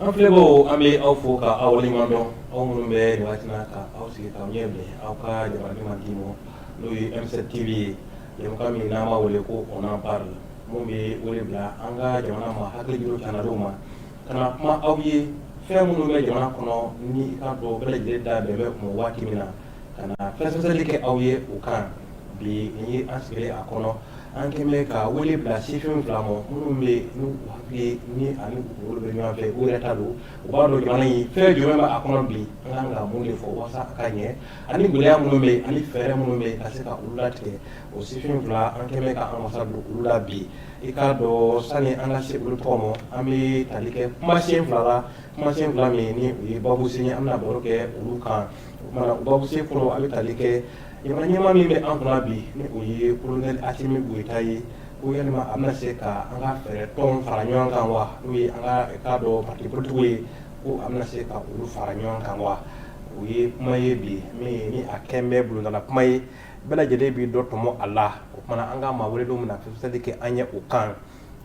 An filɛbagaw an bɛ aw fo ka aw waleɲumandɔn aw minnu bɛ nin waati in na ka aw sigi k'aw ɲɛ bilen aw ka jabaranin mandi ma n'o ye M7 TV ye jɛmukan min n'an b'a wele ko on en parle min bɛ wele bila an ka jamana maa hakili juru jan dɔw ma. Ka na kuma aw ye fɛn minnu bɛ jamana kɔnɔ ni i k'a dɔn bɛɛ lajɛlen da bɛn bɛ o kan waati min na ka na fɛsɛfɛsɛli kɛ aw ye o kan bi nin ye an sigilen a kɔnɔ an kɛlen ka wele bila sifin fila ma minnu bɛ hakili ni ani kunkolo bɛ ɲɔgɔn fɛ u yɛrɛ ta don u b'a dɔn jamana in fɛn jumɛn bɛ a kɔnɔ bi an ka kan ka mun de fɔ walasa a ka ɲɛ ani gɛlɛya minnu bɛ yen ani fɛɛrɛ minnu bɛ yen ka se ka olu latigɛ o sifin fila an kɛlen ka an wasa don u la bi i k'a dɔn sani an ka se olu tɔgɔ ma an bɛ tali kɛ kumasen fila la kumasen fila min ni o ye babusen ye an bɛna baro kɛ olu kan o kumana babusen fɔlɔ an bɛ tali kɛ jamana ɲɛmaa min bɛ an kunna bi ni o ye kolonɛli Asimi Goyita ye ko yalima a bɛna se ka an ka fɛɛrɛ tɔn fara ɲɔgɔn kan wa n'o ye an ka i k'a dɔn parti politikiw ye ko a bɛna se ka olu fara ɲɔgɔn kan wa o ye kuma ye bi min ni a kɛlen bɛ bulonda la kuma ye bɛɛ lajɛlen bɛ dɔ tɔmɔ a la o tuma na an ka maa welelenw bɛna fɛsɛfɛsɛli kɛ an ye o kan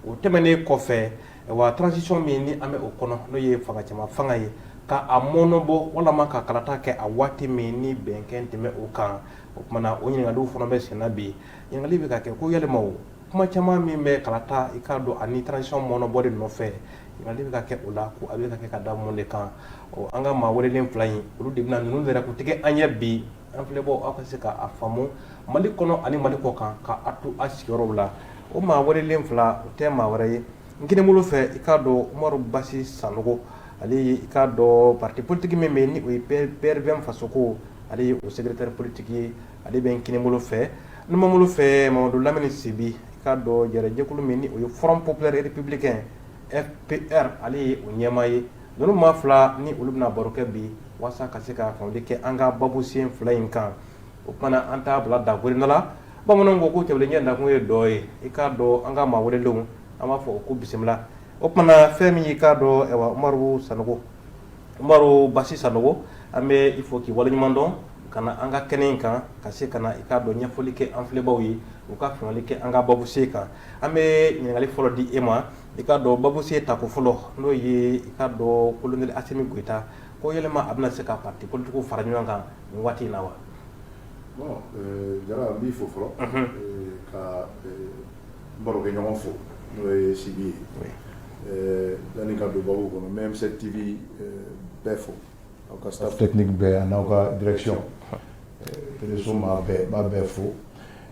o tɛmɛnen kɔfɛ wa transition min ni an bɛ o kɔnɔ n'o ye fanga cɛma fanga ye ka a mɔɔnɔbɔ walima ka kalata kɛ a waati min ni bɛn kɛlen tun bɛ o kan o tuma na o ɲininkali fana bɛ senna bi ɲininkali bɛ ka kɛ ko yalima o kuma caman min bɛ kalata i k'a dɔn ani transition mɔɔnɔbɔ de nɔfɛ ɲininkali bɛ ka kɛ o la ko a bɛ ka kɛ ka da mun de kan an ka maa welelen fila in olu de bɛna ninnu yɛrɛ ko tigɛ an ɲɛ bi An filɛbaw aw ka se k' a faamu mali kɔnɔ ani mali kɔ kan ka a to a sigiyɔrɔw la o maa welelen fila o tɛ maa wɛrɛ ye n kinin bolo fɛ i k'a dɔn Umaru Basi Sanogo ale ye i k'a dɔn parti politique min bɛ ni o ye PRVM Fasoko ale ye o secrétaire politique ye ale bɛ n kinin bolo fɛ n numan bolo fɛ Mamadu Lamini Sibi i k'a dɔn jɛkulu min ni o ye Front Populaire Républicain FPR ale ye o ɲɛmaa ye Ninnu maa fila ni olu bɛna baro kɛ bi walasa ka se ka faamuya kɛ an ka babusen fila in kan o tuma na an t'a bila dakoda la bamananw ko ko tɛ ɲɛ nakun ye dɔ ye i k'a dɔn an ka maa welelenw an b'a fɔ ko bisimila o tuma na fɛn min i k'a dɔn Umaru Sa Umaru Basi Sanogo an bɛ i fo k'i waleɲuman dɔn ka na an ka kɛnɛ in kan ka se ka na i k'a dɔn ɲɛfɔli kɛ an filɛbaw ye u ka faamuya kɛ an ka babusen kan an bɛ ɲininkali fɔlɔ di e ma I k'a dɔn babu sen tako fɔlɔ n'o ye i k'a dɔn kolonɛli Asimi Goyita ko yɛlɛma a bɛna se ka parti politikiw fara ɲɔgɔn kan nin waati in na wa Jara n b'i fo fɔlɔ ka n barokɛɲɔgɔn fo n'o ye Sibi ye yanni ka don babu kɔnɔ n bɛ M7 TV bɛɛ fo aw ka staff technique bɛɛ a n'aw ka direction réseau b'a bɛɛ fo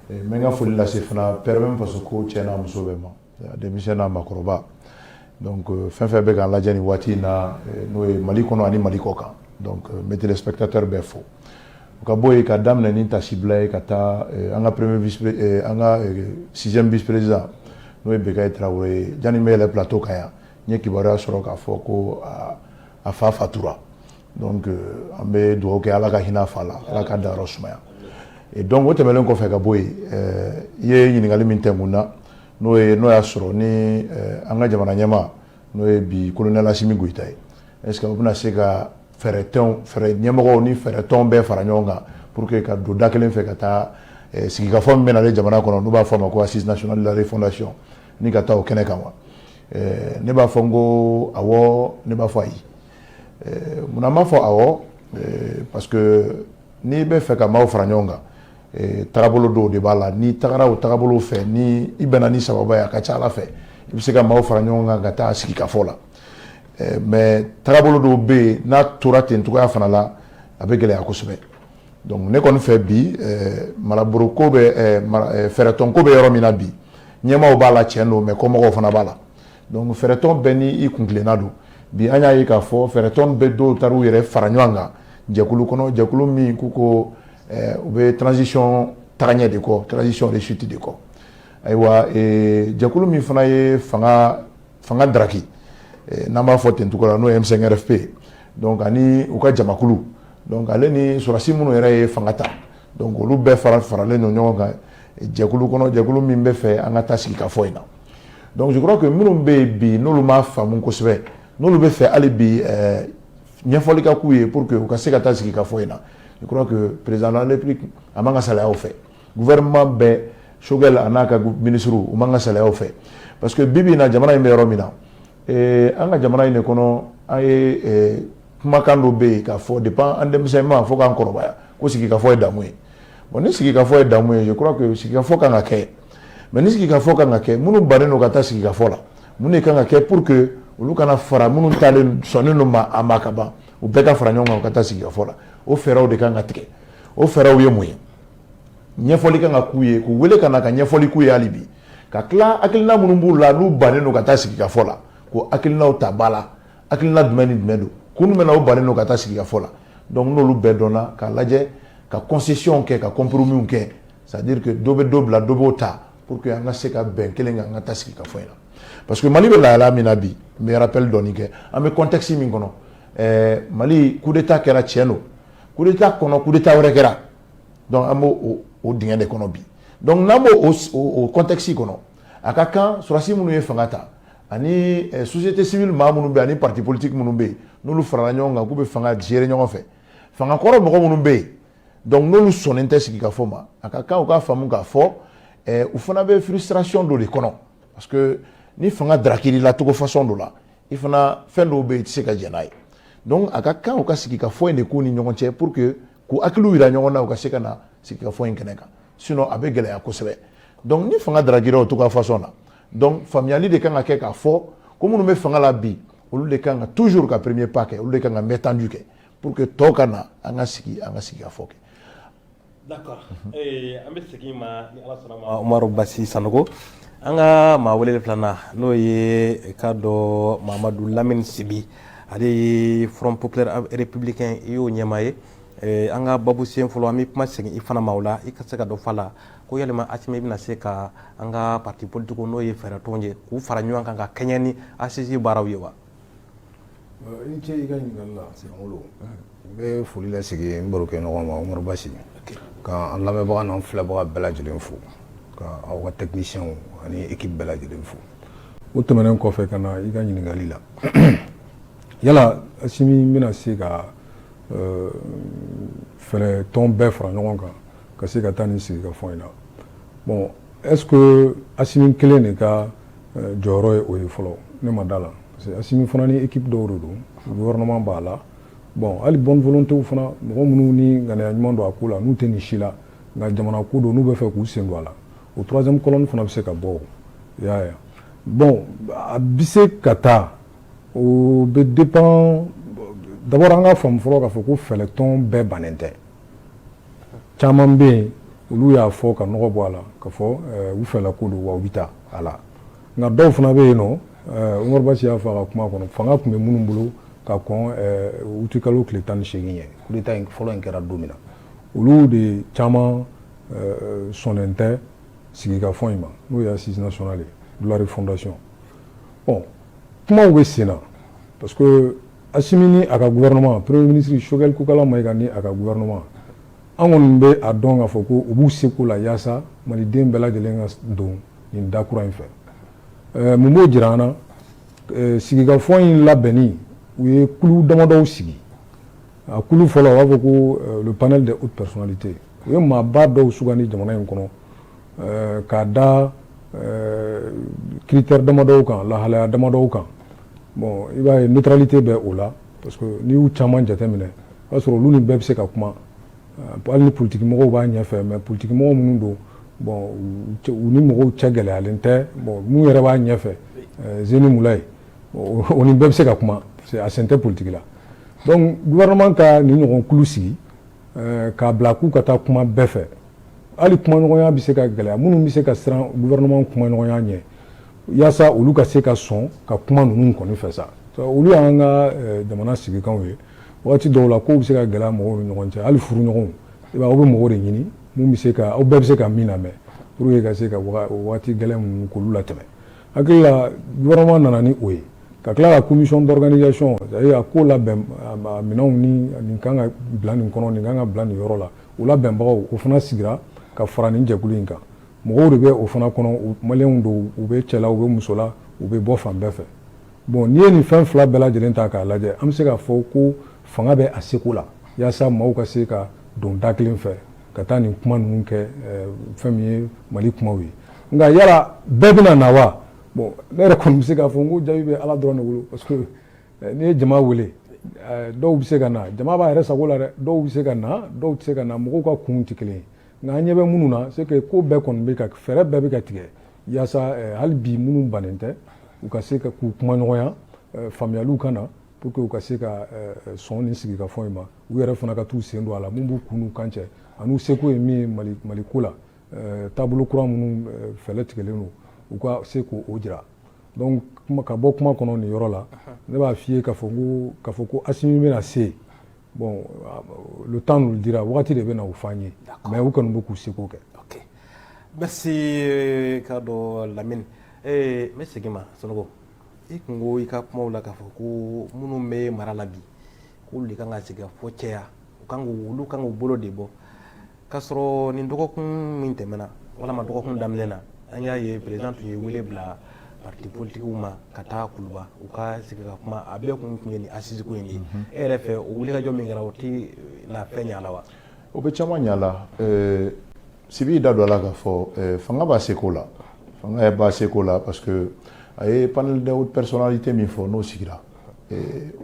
n bɛ n ka foli lase fana PRVM Fasoko cɛ n'a muso bɛɛ ma denmisɛn n'a makɔrɔba donc euh, fɛn fɛn bɛ k'an lajɛ nin waati in na euh, n'o ye mali kɔnɔ ani mali kɔ kan donc euh, n bɛ téléspectateur bɛɛ fo o ka bɔ yen ka daminɛ ni tasibila ye ka taa an ka premier vice an ka sixième vice président n'o ye Bekayi Tarawele ye janni n bɛ yɛlɛ plateau kan yan n ye kibaruya sɔrɔ k'a fɔ ko a fa fatura donc euh, an bɛ dugawu kɛ ala ka hinɛ a fa la ala k'a dayɔrɔ sumaya donc o tɛmɛnen kɔfɛ ka bɔ yen euh, i ye ɲininkali min tɛnkun na n'o ye n'o y'a sɔrɔ ni euh, an ka jamana ɲɛmaa n'o ye bi kolonɛl asimi goyita ye est ce que o bɛna se ka fɛɛrɛtɔnw fɛɛrɛ ɲɛmɔgɔw ni fɛɛrɛtɔnw bɛɛ fara ɲɔgɔn kan pour que ka don da kelen fɛ ka taa sigikafɔ min bɛ nalen jamana kɔnɔ n'u b'a fɔ a ma ko assise nationale de la refondation ni ka taa o kɛnɛ kan wa ne b'a fɔ n ko awɔ ne b'a fɔ ayi Munna n b'a fɔ awɔ parce que n'i bɛ fɛ ka maaw fara ɲɔgɔn kan taabolo dɔw de b'a la n'i tagara o taabolo fɛ ni i bɛnna ni sababu ye a ka ca ala fɛ i bɛ se ka maaw fara ɲɔgɔn kan ka taa sigikafɔ la mais taabolo dɔw bɛ yen n'a tora ten cogoya fana la a bɛ gɛlɛya kosɛbɛ donc ne kɔni fɛ bi maraboloko bɛ fɛɛrɛtɔnko bɛ yɔrɔ min na bi ɲɛmaaw b'a la cɛn don mais kɔmɔgɔw fana b'a la Donc fɛɛrɛtɔn bɛɛ ni i kuntilenna don bi an y'a ye k'a fɔ fɛɛrɛtɔn bɛ dɔw taara u yɛrɛ fara ɲɔgɔn kan jɛkulu kɔnɔ jɛkulu min k'u ko u bɛ transition tagaɲɛ de kɔ transition réussite de kɔ ayiwa jɛkulu min fana ye fanga daraki n'an b'a fɔ ten cogo la n'o ye M5 RFP donc ani u ka jamakulu donc ale ni sɔrɔdasi minnu yɛrɛ ye fanga ta donc olu bɛɛ fara faralen don ɲɔgɔn kan jɛkulu kɔnɔ jɛkulu min bɛ fɛ an ka taa sigikafɔ in na donc je crois que minnu bɛ yen bi n'olu m'a faamu kosɛbɛ n'olu bɛ fɛ hali bi ɛɛ ɲɛfɔli ka k'u ye pour que u ka se ka taa sigikafɔ in na je crois que président de la république a man ka salaya o fɛ gouvernement bɛɛ Choguel a n'a ka minisiriw u man ka salaya o fɛ parce que bi bi in na jamana in bɛ yɔrɔ min na ee an ka jamana in de kɔnɔ an ye ee kumakan dɔ bɛ yen k'a fɔ depuis an denmisɛnninma fo k'an kɔrɔbaya ko sigikafɔ ye damu ye bon ni sigikafɔ ye damu ye je crois que sigikafɔ kan ka kɛ mais ni sigikafɔ kan ka kɛ minnu bannen don ka taa sigikafɔ la mun de kan ka kɛ pour que olu ka na fara minnu taalen sɔnnen don a ma ka ban u bɛɛ ka fara ɲɔgɔn kan ka taa sigikafɔ la o fɛɛrɛw de kan ka tigɛ o fɛɛrɛw ye mun ye ɲɛfɔli kan ka k'u ye k'u wele ka na ka ɲɛfɔli k'u ye hali bi ka tila hakilina minnu b'u la n'u bannen don ka taa sigikafɔ la k'o hakilinaw ta ba la hakilina jumɛn ni jumɛn don kun jumɛn na u bannen don ka taa sigikafɔ la donc n'olu bɛɛ dɔnna k'a lajɛ ka concession kɛ ka compromis kɛ c'est à dire que dɔ bɛ dɔ bila dɔ b'o ta pour que an ka se ka bɛn kelen kan an ka taa sigikafɔ in na parce que mali bɛ lahala min na bi n bɛ rappel dɔɔni kɛ an bɛ contexte min kɔnɔ ɛɛ mali coup d'état kɛra tiɲɛ don coup d'état kɔnɔ coup d'état wɛrɛ kɛra donc an b'o o dingɛ de kɔnɔ bi donc n'an b'o o contexte kɔnɔ a ka kan sɔrɔdasi minnu ye fanga ta ani eh, société civile maa minnu bɛ ani parti politique minnu bɛ yen n'olu farala ɲɔgɔn kan k'u bɛ fanga gérer ɲɔgɔn fɛ fanga kɔrɔ mɔgɔ minnu bɛ yen donc n'olu sɔnnen tɛ sigikafɔ ma a ka kan u k'a faamu k'a fɔ eh, u fana bɛ frustration dɔ de kɔnɔ parce que ni fanga tarakir'i la cogo façon dɔ la i fana fɛn dɔw bɛ yen i tɛ se ka jɛn n'a ye donc a ka kan u ka sigikafɔ in de k'u ni ɲɔgɔn cɛ pour que k'u hakiliw yira ɲɔgɔn na u ka se ka na sigikafɔ in kɛnɛ kan sinon a bɛ gɛlɛya kosɛbɛ donc ni fanga tarakira o cogoya façon na donc faamuyali de kan ka kɛ k'a fɔ ko minnu bɛ fanga la bi olu de kan ka toujours ka premier pas kɛ olu de kan ka main tendue kɛ pour que tɔw ka na an ka sigi an ka sigikafɔ kɛ d'accord eh, an bɛ segin i ma ni ala sɔnna ma umaru basi sanogo an ka maa welelen filanan n'o ye ka dɔ mamadu lamini sibi ale ye front populaire républicain i y'o ɲɛmaa ye eh, an ka babu sen fɔlɔ an bɛ kuma segin i fana ma o la i ka se ka dɔ f'a la ko yalima asimi i bɛna se ka an ka parti politique n'o ye fɛɛrɛtɔnw ye k'u fara ɲɔgɔn kan ka kɛɲɛ ni assises baaraw ye wa i ni ce i ka ɲininkali la sɛgɛnkolo n bɛ foli lasigi n barokɛɲɔgɔn ma umaru basi ka an lamɛnbaga n'an filɛbaga bɛɛ lajɛlen fo ka aw ka techniciens ani équipe bɛɛ lajɛlen fo o tɛmɛnen kɔfɛ ka na i ka ɲininkali la yala asimi bɛna se ka fɛɛrɛtɔn bɛɛ fara ɲɔgɔn kan ka se ka taa nin sigikafɔ in na bon est-ce que Asimi kelen de ka jɔyɔrɔ ye o ye fɔlɔ ne ma d'a la parce que Asimi fana ni équipe dɔw de don gouvernement b'a la bon hali bonne volonté fana mɔgɔ minnu ni ŋaniya ɲuman don a ko la n'u tɛ nin si la nka jamana ko don n'u b'a fɛ k'u sen don a la o troisième colonne fana bɛ se ka bɔ i y'a ye bon a bɛ se ka taa O bɛ dépend d'abord an ka faamu fɔlɔ k'a fɔ ko fɛɛrɛtɔn bɛɛ bannen tɛ caman bɛ yen olu y'a fɔ ka nɔgɔ bɔ a la ka fɔ u fɛ ko don wa u bɛ taa a la nka dɔw fana bɛ yen nɔ Umaru Basi y'a fɔ a ka kuma kɔnɔ fanga tun bɛ minnu bolo ka kɔn uti kalo tile tan ni segin ɲɛ coup d'État fɔlɔ in kɛra don min na olu de caman sɔnnen tɛ sigikafɔ in ma n'o ye assises nationales de la refondation ɔ kumaw bɛ sen na parce que Asimi ni a ka gouvernement premier ministre Choguel Kokalla Maïga ni a ka gouvernement an kɔni bɛ a dɔn k'a fɔ ko u b'u seko la yaasa maliden bɛɛ lajɛlen ka don nin da kura in fɛ ɛɛ mun b'o jira an na ɛɛ sigikafɔ in labɛnni u ye kulu damadɔw sigi a kulu fɔlɔ u b'a fɔ ko le panel des hautes personnalités u ye maaba dɔw sugandi jamana in kɔnɔ k'a da critère damadɔw kan lahalaya damadɔw kan bon i b'a ye neutralité bɛ o la parce que n'i y'u caman jateminɛ o b'a sɔrɔ olu ni bɛɛ bɛ se ka kuma hali ni politigimɔgɔw b'a ɲɛfɛ mais politigimɔgɔ minnu don bon u ni mɔgɔw cɛ gɛlɛyalen tɛ bon min yɛrɛ b'a ɲɛfɛ Zeini Moulaye o ni bɛɛ bɛ se ka kuma a sen tɛ politigi la donc gouvernement ka nin ɲɔgɔn kulu sigi eh, k'a bila k'u ka taa kuma bɛɛ fɛ hali kumaɲɔgɔnya bɛ se ka gɛlɛya minnu bɛ se ka siran gouvernement kumaɲɔgɔnya ɲɛ yaasa olu ka se ka sɔn ka kuma ninnu kɔni fɛ sa olu y'an ka eh, jamana sigikanw ye waati dɔw la kow bɛ se ka gɛlɛya mɔgɔw ni ɲɔgɔn cɛ hali furuɲɔgɔnw i b'a aw bɛ mɔgɔ de ɲini mun bɛ se ka aw bɛɛ bɛ se ka min lamɛn pour que ka se ka waati gɛlɛn ninnu k'olu latɛmɛ hakili la gouvernement nana ni o ye ka tila ka commission d'organisation a ko labɛn minɛnw nin ka kan ka bila nin kɔnɔ nin kan ka bila nin yɔrɔ la o labɛnbagaw o fana sigira ka fara nin jɛkulu in kan mɔgɔw de bɛ o fana kɔnɔ maliyɛnw don u bɛ cɛ la u bɛ muso la u bɛ bɔ fan bɛɛ fɛ bon n'i ye nin fɛn fila bɛɛ lajɛlen ta k'a lajɛ an bɛ se k'a fɔ ko fanga bɛ a seko la yaasa maaw ka se ka don da kelen fɛ ka taa nin kuma ninnu kɛ fɛn min ye Mali kumaw ye Nka yala bɛɛ bɛna na wa ne yɛrɛ kɔni bɛ se k'a fɔ n ko jaabi bɛ Ala dɔrɔn de bolo parce que n'i ye jama wele dɔw bɛ se ka na jama b'a yɛrɛ sago la dɛ dɔw bɛ se ka na dɔw tɛ se ka na mɔgɔw ka kun tɛ kelen ye nka an ɲɛ bɛ minnu na c'est que ko bɛɛ kɔni bɛ ka fɛɛrɛ bɛɛ bɛ ka tigɛ yaasa hali bi minnu bannen tɛ u ka se ka k'u kumaɲɔgɔnya faamuyaliw ka na pour que u ka se ka sɔn nin sigikafɔ in ma u yɛrɛ fana ka t'u sen don a la min b'u kun kan cɛ an'u seko ye min ye Mali ko la Taabolo kura minnu fɛlɛ tigɛlen don u ka se k'o jira donc ka bɔ kuma kɔnɔ nin yɔrɔ la ne b'a f'i ye ka fɔ ko ka fɔ ko Assimi bɛna se bon le temps nous le dira waati de bɛ na o f'an ye mais u kɔni bɛ k'u seko kɛ merci k'a dɔn Lamini n bɛ segin ma Sanogo i tun ko i ka kuma la k'a fɔ ko minnu bɛ mara la bi k'olu de kan ka sigikafɔ cɛya u kan olu kan k'u bolo de bɔ k'a sɔrɔ nin dɔgɔkun min tɛmɛna walama dɔgɔkun daminɛ na an y'a ye perezan tun ye wele bila parti politikiw ma ka taa kuluba u ka sigi ka kuma a bɛɛ kun tun ye nin assise ko in de ye mhm. e yɛrɛ fɛ o wulikajɔ min kɛra o tɛ eh, na fɛn ɲa la wa o bɛ caman ɲa la eh, sibi da don a la k'a fɔ eh, fanga b'a seko la fanga b'a seko la parce que a ye panel de haute personnalité min fɔ n'o sigira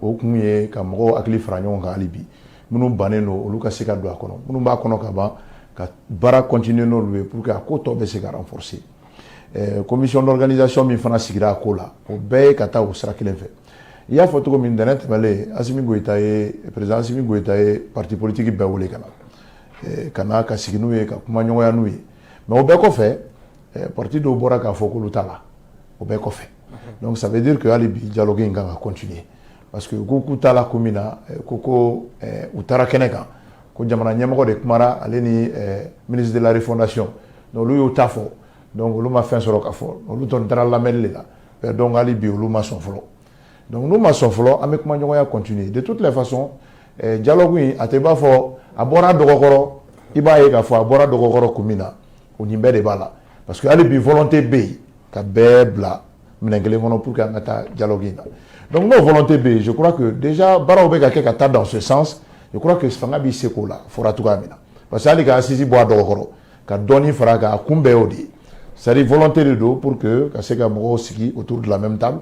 o kun ye ka mɔgɔw hakili fara ɲɔgɔn kan hali bi minnu bannen don olu ka se ka don a kɔnɔ minnu b'a kɔnɔ ka ban ka baara continuer n'olu ye pour que a ko tɔ bɛ se ka renforcer commission d'organisation min fana sigira a ko la o bɛɛ ye ka taa o sira kelen fɛ i y'a fɔ cogo min ntɛnɛn tɛmɛlen Assimi Goïta ye président Assimi Goïta ye parti politique bɛɛ wele ka na ka na ka sigi n'u ye ka kumaɲɔgɔnya n'u ye mais o bɛɛ kɔfɛ parti dɔw bɔra k'a fɔ k'olu t'a la o bɛɛ kɔfɛ donc ça veut dire que hali bi dialogue in kan ka continuer parce que ko k'u t'a la ko min na eh, ko ko eh, u taara kɛnɛ kan ko jamana ɲɛmɔgɔ de kumara ale ni eh, ministre de la refondation donc olu y'o ta fɔ donc olu ma fɛn sɔrɔ ka fɔ olu tun taara lamɛnni de la donc hali bi olu ma sɔn fɔlɔ donc n'u ma sɔn fɔlɔ an bɛ kumaɲɔgɔnya continuer de toutes les façons dialogue in a tɛ b'a fɔ a bɔra dɔgɔkɔrɔ i b'a ye k'a fɔ a bɔra dɔgɔkɔrɔ kun min na o nin bɛɛ de b'a la parce que hali bi volonté bɛ yen ka bɛɛ bila minɛn kelen kɔnɔ pour que an ka taa dialogue in na donc n'o volonté bɛ yen je crois que déjà baaraw bɛ ka kɛ ka taa dans ce sens je crois que fanga b'i seko la fɔra cogoya min na parce que hali ka assise bɔ a dɔgɔkɔrɔ ka dɔɔni fara a kan a kun bɛɛ y'o de ye c'est à dire volonté de don pour que ka se ka mɔgɔw sigi autour de la même table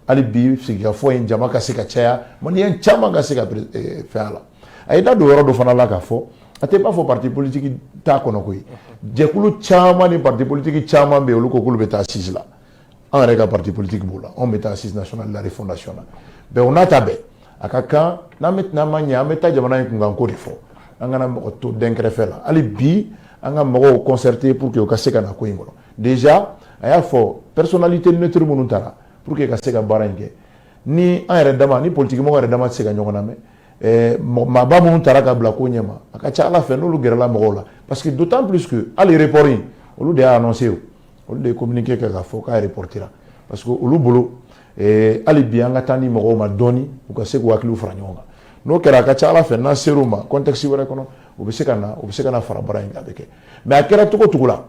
hali bi sigikafɔ in jama ka se ka caya maliyɛn caman ka se ka fɛn a la a ye da don yɔrɔ dɔ fana la k'a fɔ a tɛ b'a fɔ parti politique t'a kɔnɔ koyi jɛkulu caman ni parti politique caman bɛ yen olu ko k'olu bɛ taa assise la an yɛrɛ ka parti politique b'o la anw bɛ taa assise nationale de la refondation na bɛn o n'a ta bɛɛ a ka kan n'an bɛ tɛna ma ɲɛ an bɛ taa jamana in kunkanko de fɔ an kana mɔgɔ to dɛnkɛrɛfɛ la hali bi an ka mɔgɔw concerter pour que u ka se ka na ko in kɔnɔ déjà a y'a fɔ personnalité neutre minnu taara pour que ka se ka baara in kɛ ni an yɛrɛ dama ni politikimɔgɔ yɛrɛ dama tɛ se ka ɲɔgɔn lamɛn eh, maaba minnu taara ka bila ko ɲɛma a ka ca ala fɛ n'olu gɛrɛla mɔgɔw la parce que d'autant plus que hali report in olu de y'a annoncé o olu de ye communiqué kɛ k'a fɔ k'a reportera parce que olu bolo eh, hali bi an ka temps di mɔgɔw ma dɔɔni u ka se k'u hakiliw fara ɲɔgɔn kan n'o kɛra a ka ca ala fɛ n'an ser'u ma contexte wɛrɛ kɔnɔ u bɛ se ka na u bɛ se ka na fara baara in kan a bɛ kɛ mais a kɛra cogo cogo la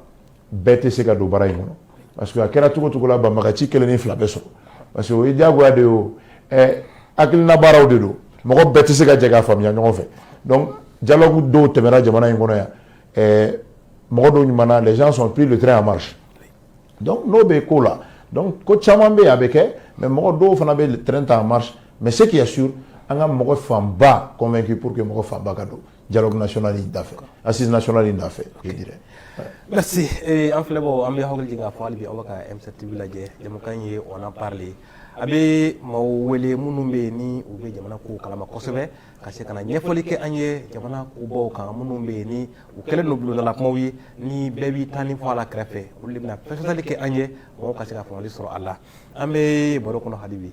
bɛɛ tɛ se ka don baara in kɔnɔ parce que a kɛra cogo cogo la banbaganci kelen ni fila bɛ sɔrɔ parce que o ye diyagoya de ye o ɛ hakilina baaraw de don mɔgɔ bɛɛ tɛ se ka jɛ k'a faamuya ɲɔgɔn fɛ donc dialogue dɔw tɛmɛna jamana in kɔnɔ yan ɛɛ mɔgɔ dɔw ɲumanna les gens ont pris le train en marche donc n'o bɛ ko la donc ko caman bɛ yen a bɛ kɛ mais mɔgɔ dɔw fana bɛ train ta en marche mais ce qui est sûr an ka mɔgɔ fanba convaincu pour que mɔgɔ fanba ka don dialogue national in da fɛ assise national in da fɛ je dirais merci eh, an filɛbaw an bɛ hakili jigin k'a fɔ hali bi aw bɛ ka M7 TV lajɛ jɛmukan ye on en parle a bɛ maaw wele minnu bɛ yen ni u bɛ jamana kow kalama kosɛbɛ ka se ka na ɲɛfɔli kɛ an ye jamana kobaw kan minnu bɛ yen ni u kɛlen don bulondala kumaw ye ni bɛɛ b'i tanin fɔ a la kɛrɛfɛ olu de bɛna fɛsɛfɛsɛli kɛ an ye mɔgɔw ka se ka faamuyali sɔrɔ a la an bɛ baro kɔnɔ hali bi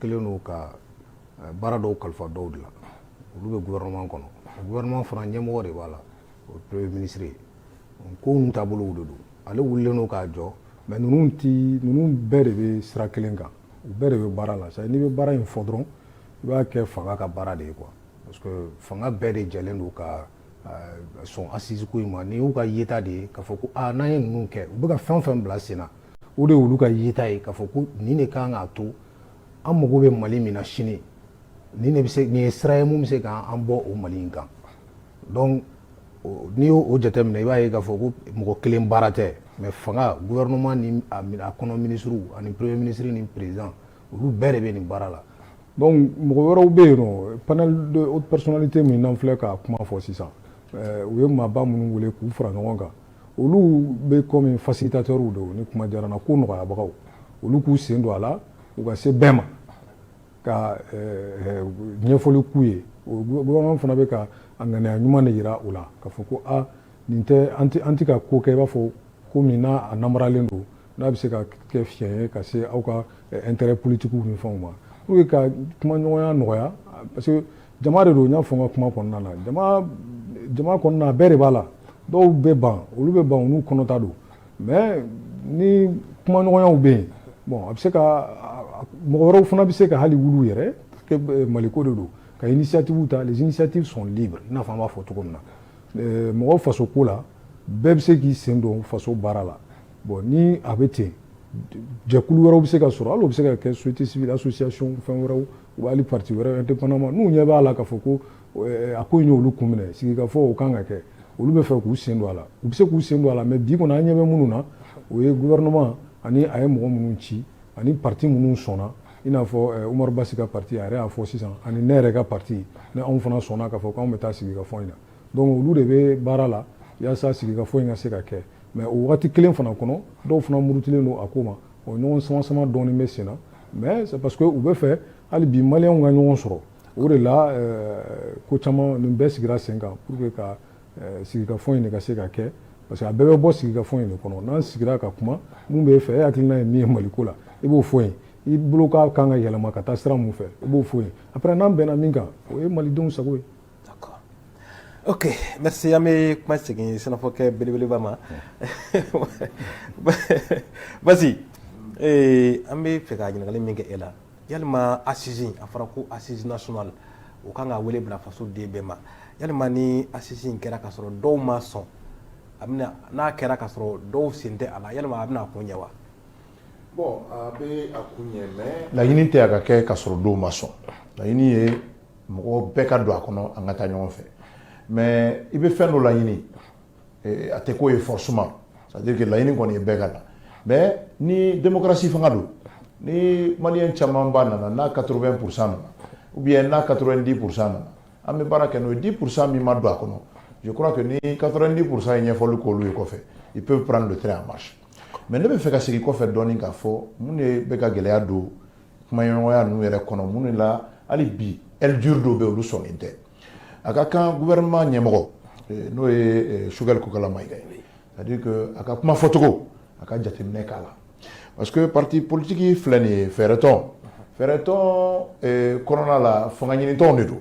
kelen don ka eh, baara dɔw kalifa dɔw de la olu bɛ gouvernement kɔnɔ gouvernement fana ɲɛmɔgɔ de b'a la o premier ministre ye ko ninnu taabolow de don ale wulilen don k'a jɔ mais ninnu ti ninnu bɛɛ de bɛ sira kelen kan u bɛɛ de bɛ baara la sa n'i bɛ baara in fɔ dɔrɔn i b'a kɛ fanga ka baara de ye quoi parce que fanga bɛɛ de jɛlen don ka sɔn assise ko in ma nin y'u ka yeta de ye k'a fɔ ko aa n'an ye ninnu kɛ u bɛ ka fɛn fɛn bila sen na o de y'olu ka yeta ye k'a fɔ ko nin de kan k'a to an mago bɛ mali min na sini nin de bɛ se nin ye sira ye mun bɛ se k'an bɔ o mali in kan donc n'i y'o o jateminɛ i b'a ye k'a fɔ ko mɔgɔ kelen baara tɛ mais fanga gouvernement ni a kɔnɔ minisiriw ani premier ministre ni président olu bɛɛ de bɛ nin baara la donc mɔgɔ wɛrɛw bɛ yen nɔ panel de haute personnalité min n'an filɛ ka kuma fɔ sisan eh, u ye maaba minnu wele k'u fara ɲɔgɔn kan olu bɛ comme facilitateurs don ni kuma diyara n na ko nɔgɔyabagaw olu k'u sen don a la u ka se bɛɛ ma ka eh, ɲɛfɔli k'u ye gouvernement fana bɛ ka a ŋaniya ɲuman de jira u la k'a fɔ ko a ah, nin tɛ an tɛ ka ko kɛ i b'a fɔ ko min n'a a namaralen don N'a bɛ se ka kɛ fiɲɛ ye ka se aw ka intérêt politique ni fɛnw ma pour que ka kumaɲɔgɔnya nɔgɔya parce que jama de don n y'a fɔ n ka kuma kɔnɔna na jama kɔnɔna bɛɛ de b'a la dɔw bɛ ban olu bɛ ban olu kɔnɔta don mais ni kumaɲɔgɔnyaw bɛ yen bon a bɛ se ka mɔgɔ wɛrɛw fana bɛ se ka hali wuli yɛrɛ maliko de don ka initiative ta les initiatives sont libres i n'a fɔ an b'a fɔ cogo min na mɔgɔ faso ko la bɛɛ bɛ se k'i sen don faso baara la Bon ni a bɛ ten jɛkulu wɛrɛw bɛ se ka sɔrɔ hali o bɛ se ka kɛ société civile association fɛn wɛrɛw hali parti wɛrɛw indépendamment n'u ɲɛ b'a la k'a fɔ ko a ko in y'olu kun minɛ sigikafɔ o kan ka kɛ olu bɛ fɛ k'u sen don a la u bɛ se k'u sen don a la mais bi kɔni an ɲɛ bɛ minnu na o ye gouvernement ani a ye mɔgɔ minnu ci ani parti minnu sɔnna i n'a fɔ Umaru Basi ka parti a y'a fɔ sisan ani ne yɛrɛ ka parti ni anw fana sɔnna k'a fɔ anw bɛ taa sigikafɔ in na donc olu de bɛ baara la walasa sigikafɔ in ka se ka kɛ mais o waati kelen fana kɔnɔ dɔw fana murutilen don a ko ma o ɲɔgɔn sama sama dɔɔni bɛ sen na mais c'est parce que u bɛ fɛ hali bi maliyɛnw ka ɲɔgɔn sɔrɔ o de la euh, ko caman nin bɛɛ sigira sen kan pour que ka euh, sigikafɔ in de ka se ka kɛ parce que a bɛɛ bɛ bɔ sigikafɔ in de kɔnɔ n'an sigira ka kuma mun b'e fɛ e hakilina ye min ye Maliko la i b'o fɔ yen i bolo k'a kan ka yɛlɛma ka taa sira mun fɛ i b'o fɔ yen après n'an bɛnna min kan o ye malidenw sago ye Ok merci an bɛ kuma segin sɛnɛfɔkɛ belebeleba ma Basi an bɛ fɛ ka ɲininkali min kɛ e la yalima assise a fɔra ko assise nationale o kan ka wele bila faso den bɛɛ ma yalima ni assise kɛra ka sɔrɔ dɔw ma sɔn n'a kɛra ka sɔrɔ dɔw sen tɛ a la yalima a bɛna a kun ɲɛ wa bon a bɛ a kun ɲɛ mais laɲini tɛ a ka kɛ ka sɔrɔ dɔw ma sɔn ye mɔgɔ bɛɛ ka don a kɔnɔ an ka taa ɲɔgɔn fɛ mɛ i bɛ fɛn dɔ laɲini a tɛ k'o ye fɔsuma sadike laɲini kɔni ye bɛɛ ka na mɛ ni denkarasi fanga don ni mali camanba nana n'a katorobɛn psa nana u bɛ n'a kato di psa nana an bɛ baara kɛ n'o di psa min ma don a kɔnɔ jo kura kɛ ni kato di psa ye ɲɛfɔli k'olu ye kɔfɛ i pe p don tɛ a ma mɛ ne bɛ fɛ ka sigi kɔfɛ dɔɔnin k'a fɔ minnu bɛ ka gɛlɛya don kumaɲɔgɔnya ninnu yɛrɛ kɔnɔ mun na hali bi aile dure dɔw bɛ olu sɔnnen tɛ a ka kan gouvernement ɲɛmɔgɔ eh, n'o ye eh, Choguel Kokala Mayiga ye c'est à dire que a ka kuma fɔcogo a ka jateminɛ k'a la parce que parti politique filɛ nin ye fɛɛrɛtɔn fɛɛrɛtɔn eh, kɔnɔna la fanga ɲinitɔnw de don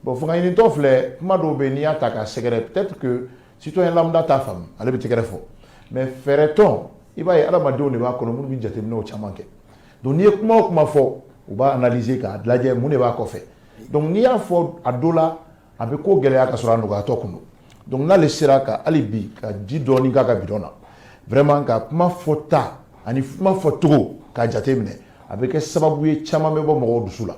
bon fanga ɲinitɔn filɛ kuma dɔw bɛ yen n'i y'a ta k'a sɛgɛrɛ peut-être que citoyen lambda t'a faamu ale bɛ tɛgɛrɛ fɔ mais fɛɛrɛtɔn i b'a ye adamadenw de b'a kɔnɔ minnu bɛ jateminɛw caman kɛ Donc n'i ye kuma o kuma fɔ u b'a analyser k'a lajɛ mun de b'a kɔfɛ donc n'i y'a fɔ a dɔ la a bɛ ko gɛlɛya ka sɔrɔ a nɔgɔyatɔ kun don n'ale sera ka hali bi ka ji dɔɔnin k'a ka bidɔn na vraiment ka kuma fɔta ani kuma fɔcogo k'a jateminɛ a bɛ kɛ sababu ye caman bɛ bɔ mɔgɔw dusu la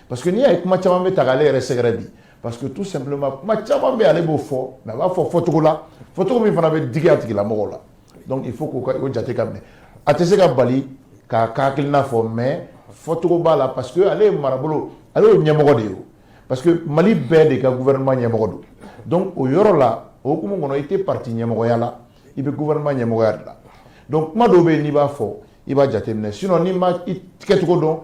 parce que n'i y'a ye kuma caman bɛ ta k'ale yɛrɛ sɛgɛrɛ bi parce que tout simplement kuma caman bɛ ale b'o fɔ a b'a fɔ fɔcogo la fɔcogo min fana bɛ jatigɛ bila mɔgɔw la Donc il faut k'o jate ka minɛ a tɛ se ka bali k'a ka hakilina fɔ mais fɔcogo b'a la parce que ale ye marabolo ale ye ɲɛmɔgɔ de ye parce que Mali bɛɛ de ka gouvernement ɲɛmɔgɔ don donc o yɔrɔ la o hukumu kɔnɔ i tɛ parti ɲɛmɔgɔya la i bɛ gouvernement ɲɛmɔgɔya de la donc kuma dɔw bɛ yen n'i b'a fɔ i b'a jateminɛ sinon n'i ma i kɛcogo dɔn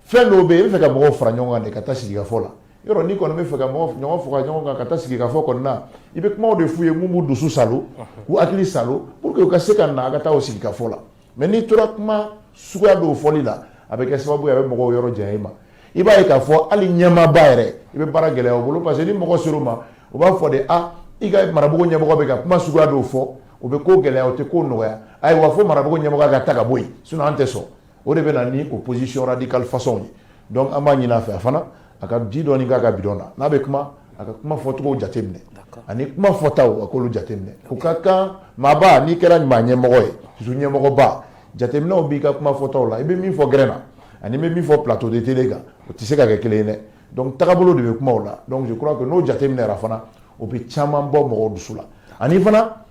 fɛn dɔw bɛ yen i bɛ fɛ ka mɔgɔw fara ɲɔgɔn kan de ka taa sigikafɔ la yɔrɔ n'i kɔni bɛ fɛ ka mɔgɔ ɲɔgɔn fara ɲɔgɔn kan ka taa sigikafɔ kɔnɔna na i bɛ kumaw de f'u ye mun b'u dusu salo k'u hakili salo pour que u ka se ka na a ka taa o sigikafɔ la mais n'i tora kuma suguya dɔw fɔli la a bɛ kɛ sababu ye a bɛ mɔgɔw yɔrɔ janya i ma i b'a ye k'a fɔ hali ɲɛmaaba yɛrɛ i bɛ baara gɛlɛya u bolo parce que ni mɔgɔ ser'u ma u b'a fɔ de a i ka marabolo ɲɛmɔgɔ bɛ ka kuma suguya dɔw fɔ o bɛ ko gɛlɛya o tɛ ko nɔgɔya ayiwa fo marabolo ɲɛmɔgɔ ka ta ka bɔ yen sinon an tɛ sɔn o de bɛ na ni opposition radicale façon ye donc an b'a ɲini a fɛ fana a ka ji dɔɔni k'a ka bidon na n'a bɛ kuma a ka kuma fɔcogo jateminɛ ani kuma fɔtaw a k'olu jateminɛ o ka kan maaba n'i kɛra maa ɲɛmɔgɔ ye surtout ɲɛmɔgɔba jateminɛw b'i ka kuma fɔtaw la i bɛ min fɔ gɛrɛn na an'i bɛ min fɔ plateau de télé kan o tɛ se ka kɛ kelen ye dɛ donc tagabolo de bɛ kuma la donc je crois que n'o jateminɛra fana o bɛ caman bɔ mɔgɔw dusu la ani fana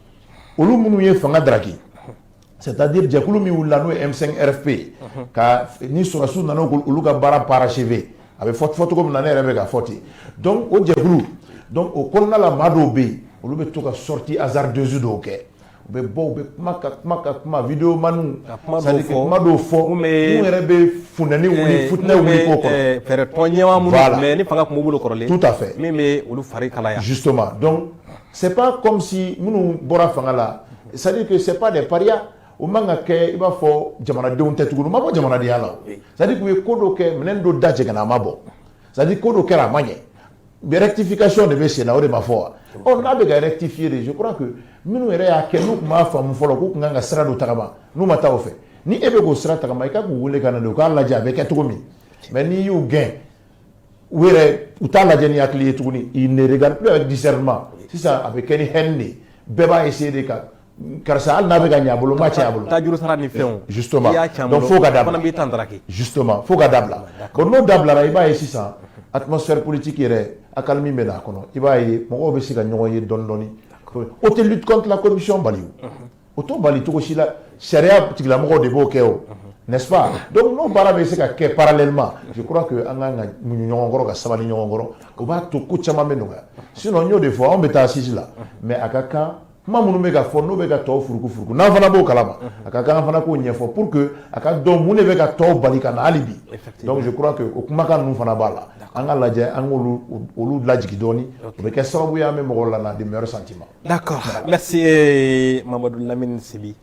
olu minnu ye fanga daraki C'est à dire jɛkulu min wulila n'o ye M5 RFP ye ka ni sɔrɔdasiw nana olu ka baara parachever a bɛ fɔ cogo min na ne yɛrɛ bɛ k'a fɔ ten donc o jɛkulu o kɔnɔna la maa dɔw bɛ yen olu bɛ to ka sortie hasardeuse dɔw kɛ u bɛ bɔ u bɛ kuma ka kuma ka kuma vidéo maniw kuma dɔw fɔ min yɛrɛ bɛ funteni wuli fɛɛrɛ tɔn ɲɛmaa minnu ni fanga tun b'u bolo kɔrɔlen tout à fait min bɛ olu fari kalaya justement C'est pas comme si minnu bɔra fanga la c'est à dire que c'est pas des parias o man ka kɛ i b'a fɔ jamanadenw tɛ tuguni u ma bɔ jamanadenya la c'est à dire k'u ye ko dɔ kɛ minɛn dɔ da jɛngɛnna a ma bɔ c'est à dire ko dɔ kɛra a ma ɲɛ rectification de bɛ sen na o de ma fɔ wa ɔ n'a bɛ ka rectifier de je crois que minnu yɛrɛ y'a kɛ n'u tun b'a faamu fɔlɔ k'u tun kan ka sira dɔ tagama n'u ma taa o fɛ ni e bɛ k'o sira tagama i ka k'u wele ka na de u k'a lajɛ a bɛ kɛ cogo min mais n'i y'u gɛn u yɛrɛ u t'a lajɛ ni hakili ye tuguni ils ne regardent plus avec discernement sisan a bɛ kɛ ni haine de ye bɛɛ b'a essayer de ka karisa hali n'a bɛ ka ɲɛ a bolo n b'a tiɲɛ a bolo tajuru sara ni fɛnw justement i y'a tiɲɛ a bolo donc fo ka dabila fana b'i ta ndaraki justement fo ka dabila bon n'o dabilara i b'a ye sisan atmosphère politique yɛrɛ accalmie bɛ na a kɔnɔ i b'a ye mɔgɔw bɛ se ka ɲɔgɔn ye dɔɔni dɔɔni o tɛ lutte contre la corruption bali o. O t'o bali cogo si la sariya tigilamɔgɔw de b'o kɛ o n'est-ce pas donc n'o baara bɛ se ka kɛ parallèlement je crois que an kan ka muɲu ɲɔgɔn kɔrɔ ka sabali ɲɔgɔn kɔrɔ o b'a to ko caman bɛ nɔgɔya sinon n y'o de fɔ anw bɛ taa assise la mais a ka kan kuma minnu bɛ ka fɔ n'o bɛ ka tɔw furuku furuku n'an fana b'o kalama a ka kan an fana k'o ɲɛfɔ pour que a k'a dɔn mun de bɛ ka tɔw bali ka na hali bi donc je crois que o kumakan ninnu fana b'a la an k'a lajɛ an k'olu olu lajigin dɔɔni o bɛ kɛ sababu ye an bɛ mɔgɔw lana de meilleurs sentiments d'accord merci eh, Mamadou Lamine Sibi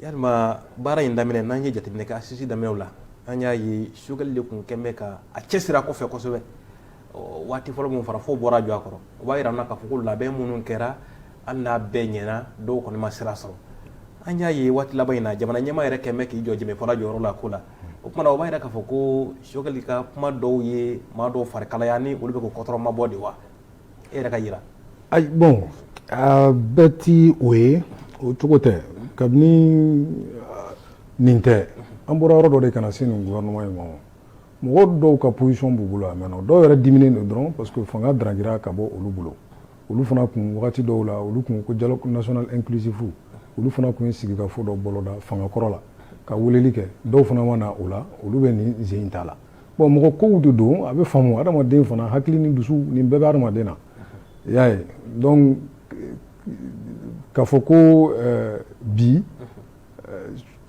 yalima baara in daminɛ n'an ye jateminɛ kɛ assises daminɛw la an y'a ye Choguel de kun kɛn bɛ ka a cɛsiri a kɔfɛ kosɛbɛ waati fɔlɔ min fara fo bɔra jɔ a kɔrɔ o b'a yira an na k'a fɔ ko labɛn minnu kɛra hali n'a bɛɛ ɲɛna dɔw kɔni ma sira sɔrɔ an y'a ye waati laban in na jamana ɲɛmaa yɛrɛ kɛn bɛ k'i jɔ jɛmɛfɔla jɔyɔrɔ la ko la o kuma na o b'a yira k'a fɔ ko Choguel ka kuma dɔw ye maa dɔw fari kalaya ni olu bɛ k'u kɔtɔrɔmabɔ de wa e yɛrɛ ka yira ayi bon a bɛɛ tɛ o ye o cogo tɛ kabini nin tɛ an bɔra yɔrɔ dɔ de ka na se nin gouvernement in ma mɔgɔ dɔw ka position b'u bolo a mɛnna dɔw yɛrɛ diminen don dɔrɔn parce que fanga daragira ka bɔ olu bolo olu fana kun wagati dɔw la olu kun ko dialogue national inclusif olu fana kun ye sigikafɔ dɔ boloda fanga kɔrɔ la ka weleli kɛ dɔw fana ma na o la olu bɛ nin zen in ta la bon mɔgɔ kow de don a bɛ faamu adamaden fana hakili ni dusu nin bɛɛ bɛ adamaden na i y'a ye donc k'a fɔ ko eh, bi eh,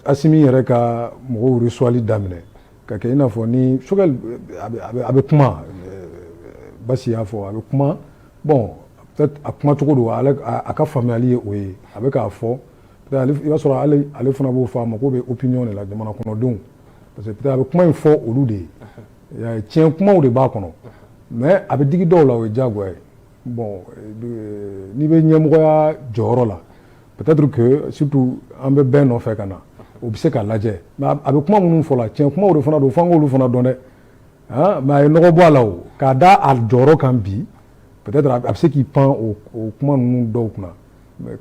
Assimi yɛrɛ ka mɔgɔw resuwali daminɛ ka kɛ i n'a fɔ ni Choguel a bɛ kuma eh, Basi y'a fɔ a bɛ kuma bon a kuma cogo don a ka faamuyali ye o ye a bɛ k'a fɔ i b'a sɔrɔ ale fana b'o fɔ a mako bɛ opinion de la jamana kɔnɔdenw parce que peut-être a bɛ kuma in fɔ olu de ye i y'a ye tiɲɛ kumaw de b'a kɔnɔ mais a bɛ digi dɔw la o ye diyagoya ye bon euh, n'i bɛ ɲɛmɔgɔya jɔyɔrɔ la peut-être que surtout an bɛ bɛɛ nɔfɛ ka na o bɛ se ka lajɛ mais a bɛ kuma minnu fɔ la tiɲɛ kumaw de fana don f'an k'olu fana dɔn dɛ ah, mais a ye nɔgɔ bɔ a la o k'a da a jɔyɔrɔ kan bi peut-être a bɛ se k'i pan o kuma ninnu dɔw kunna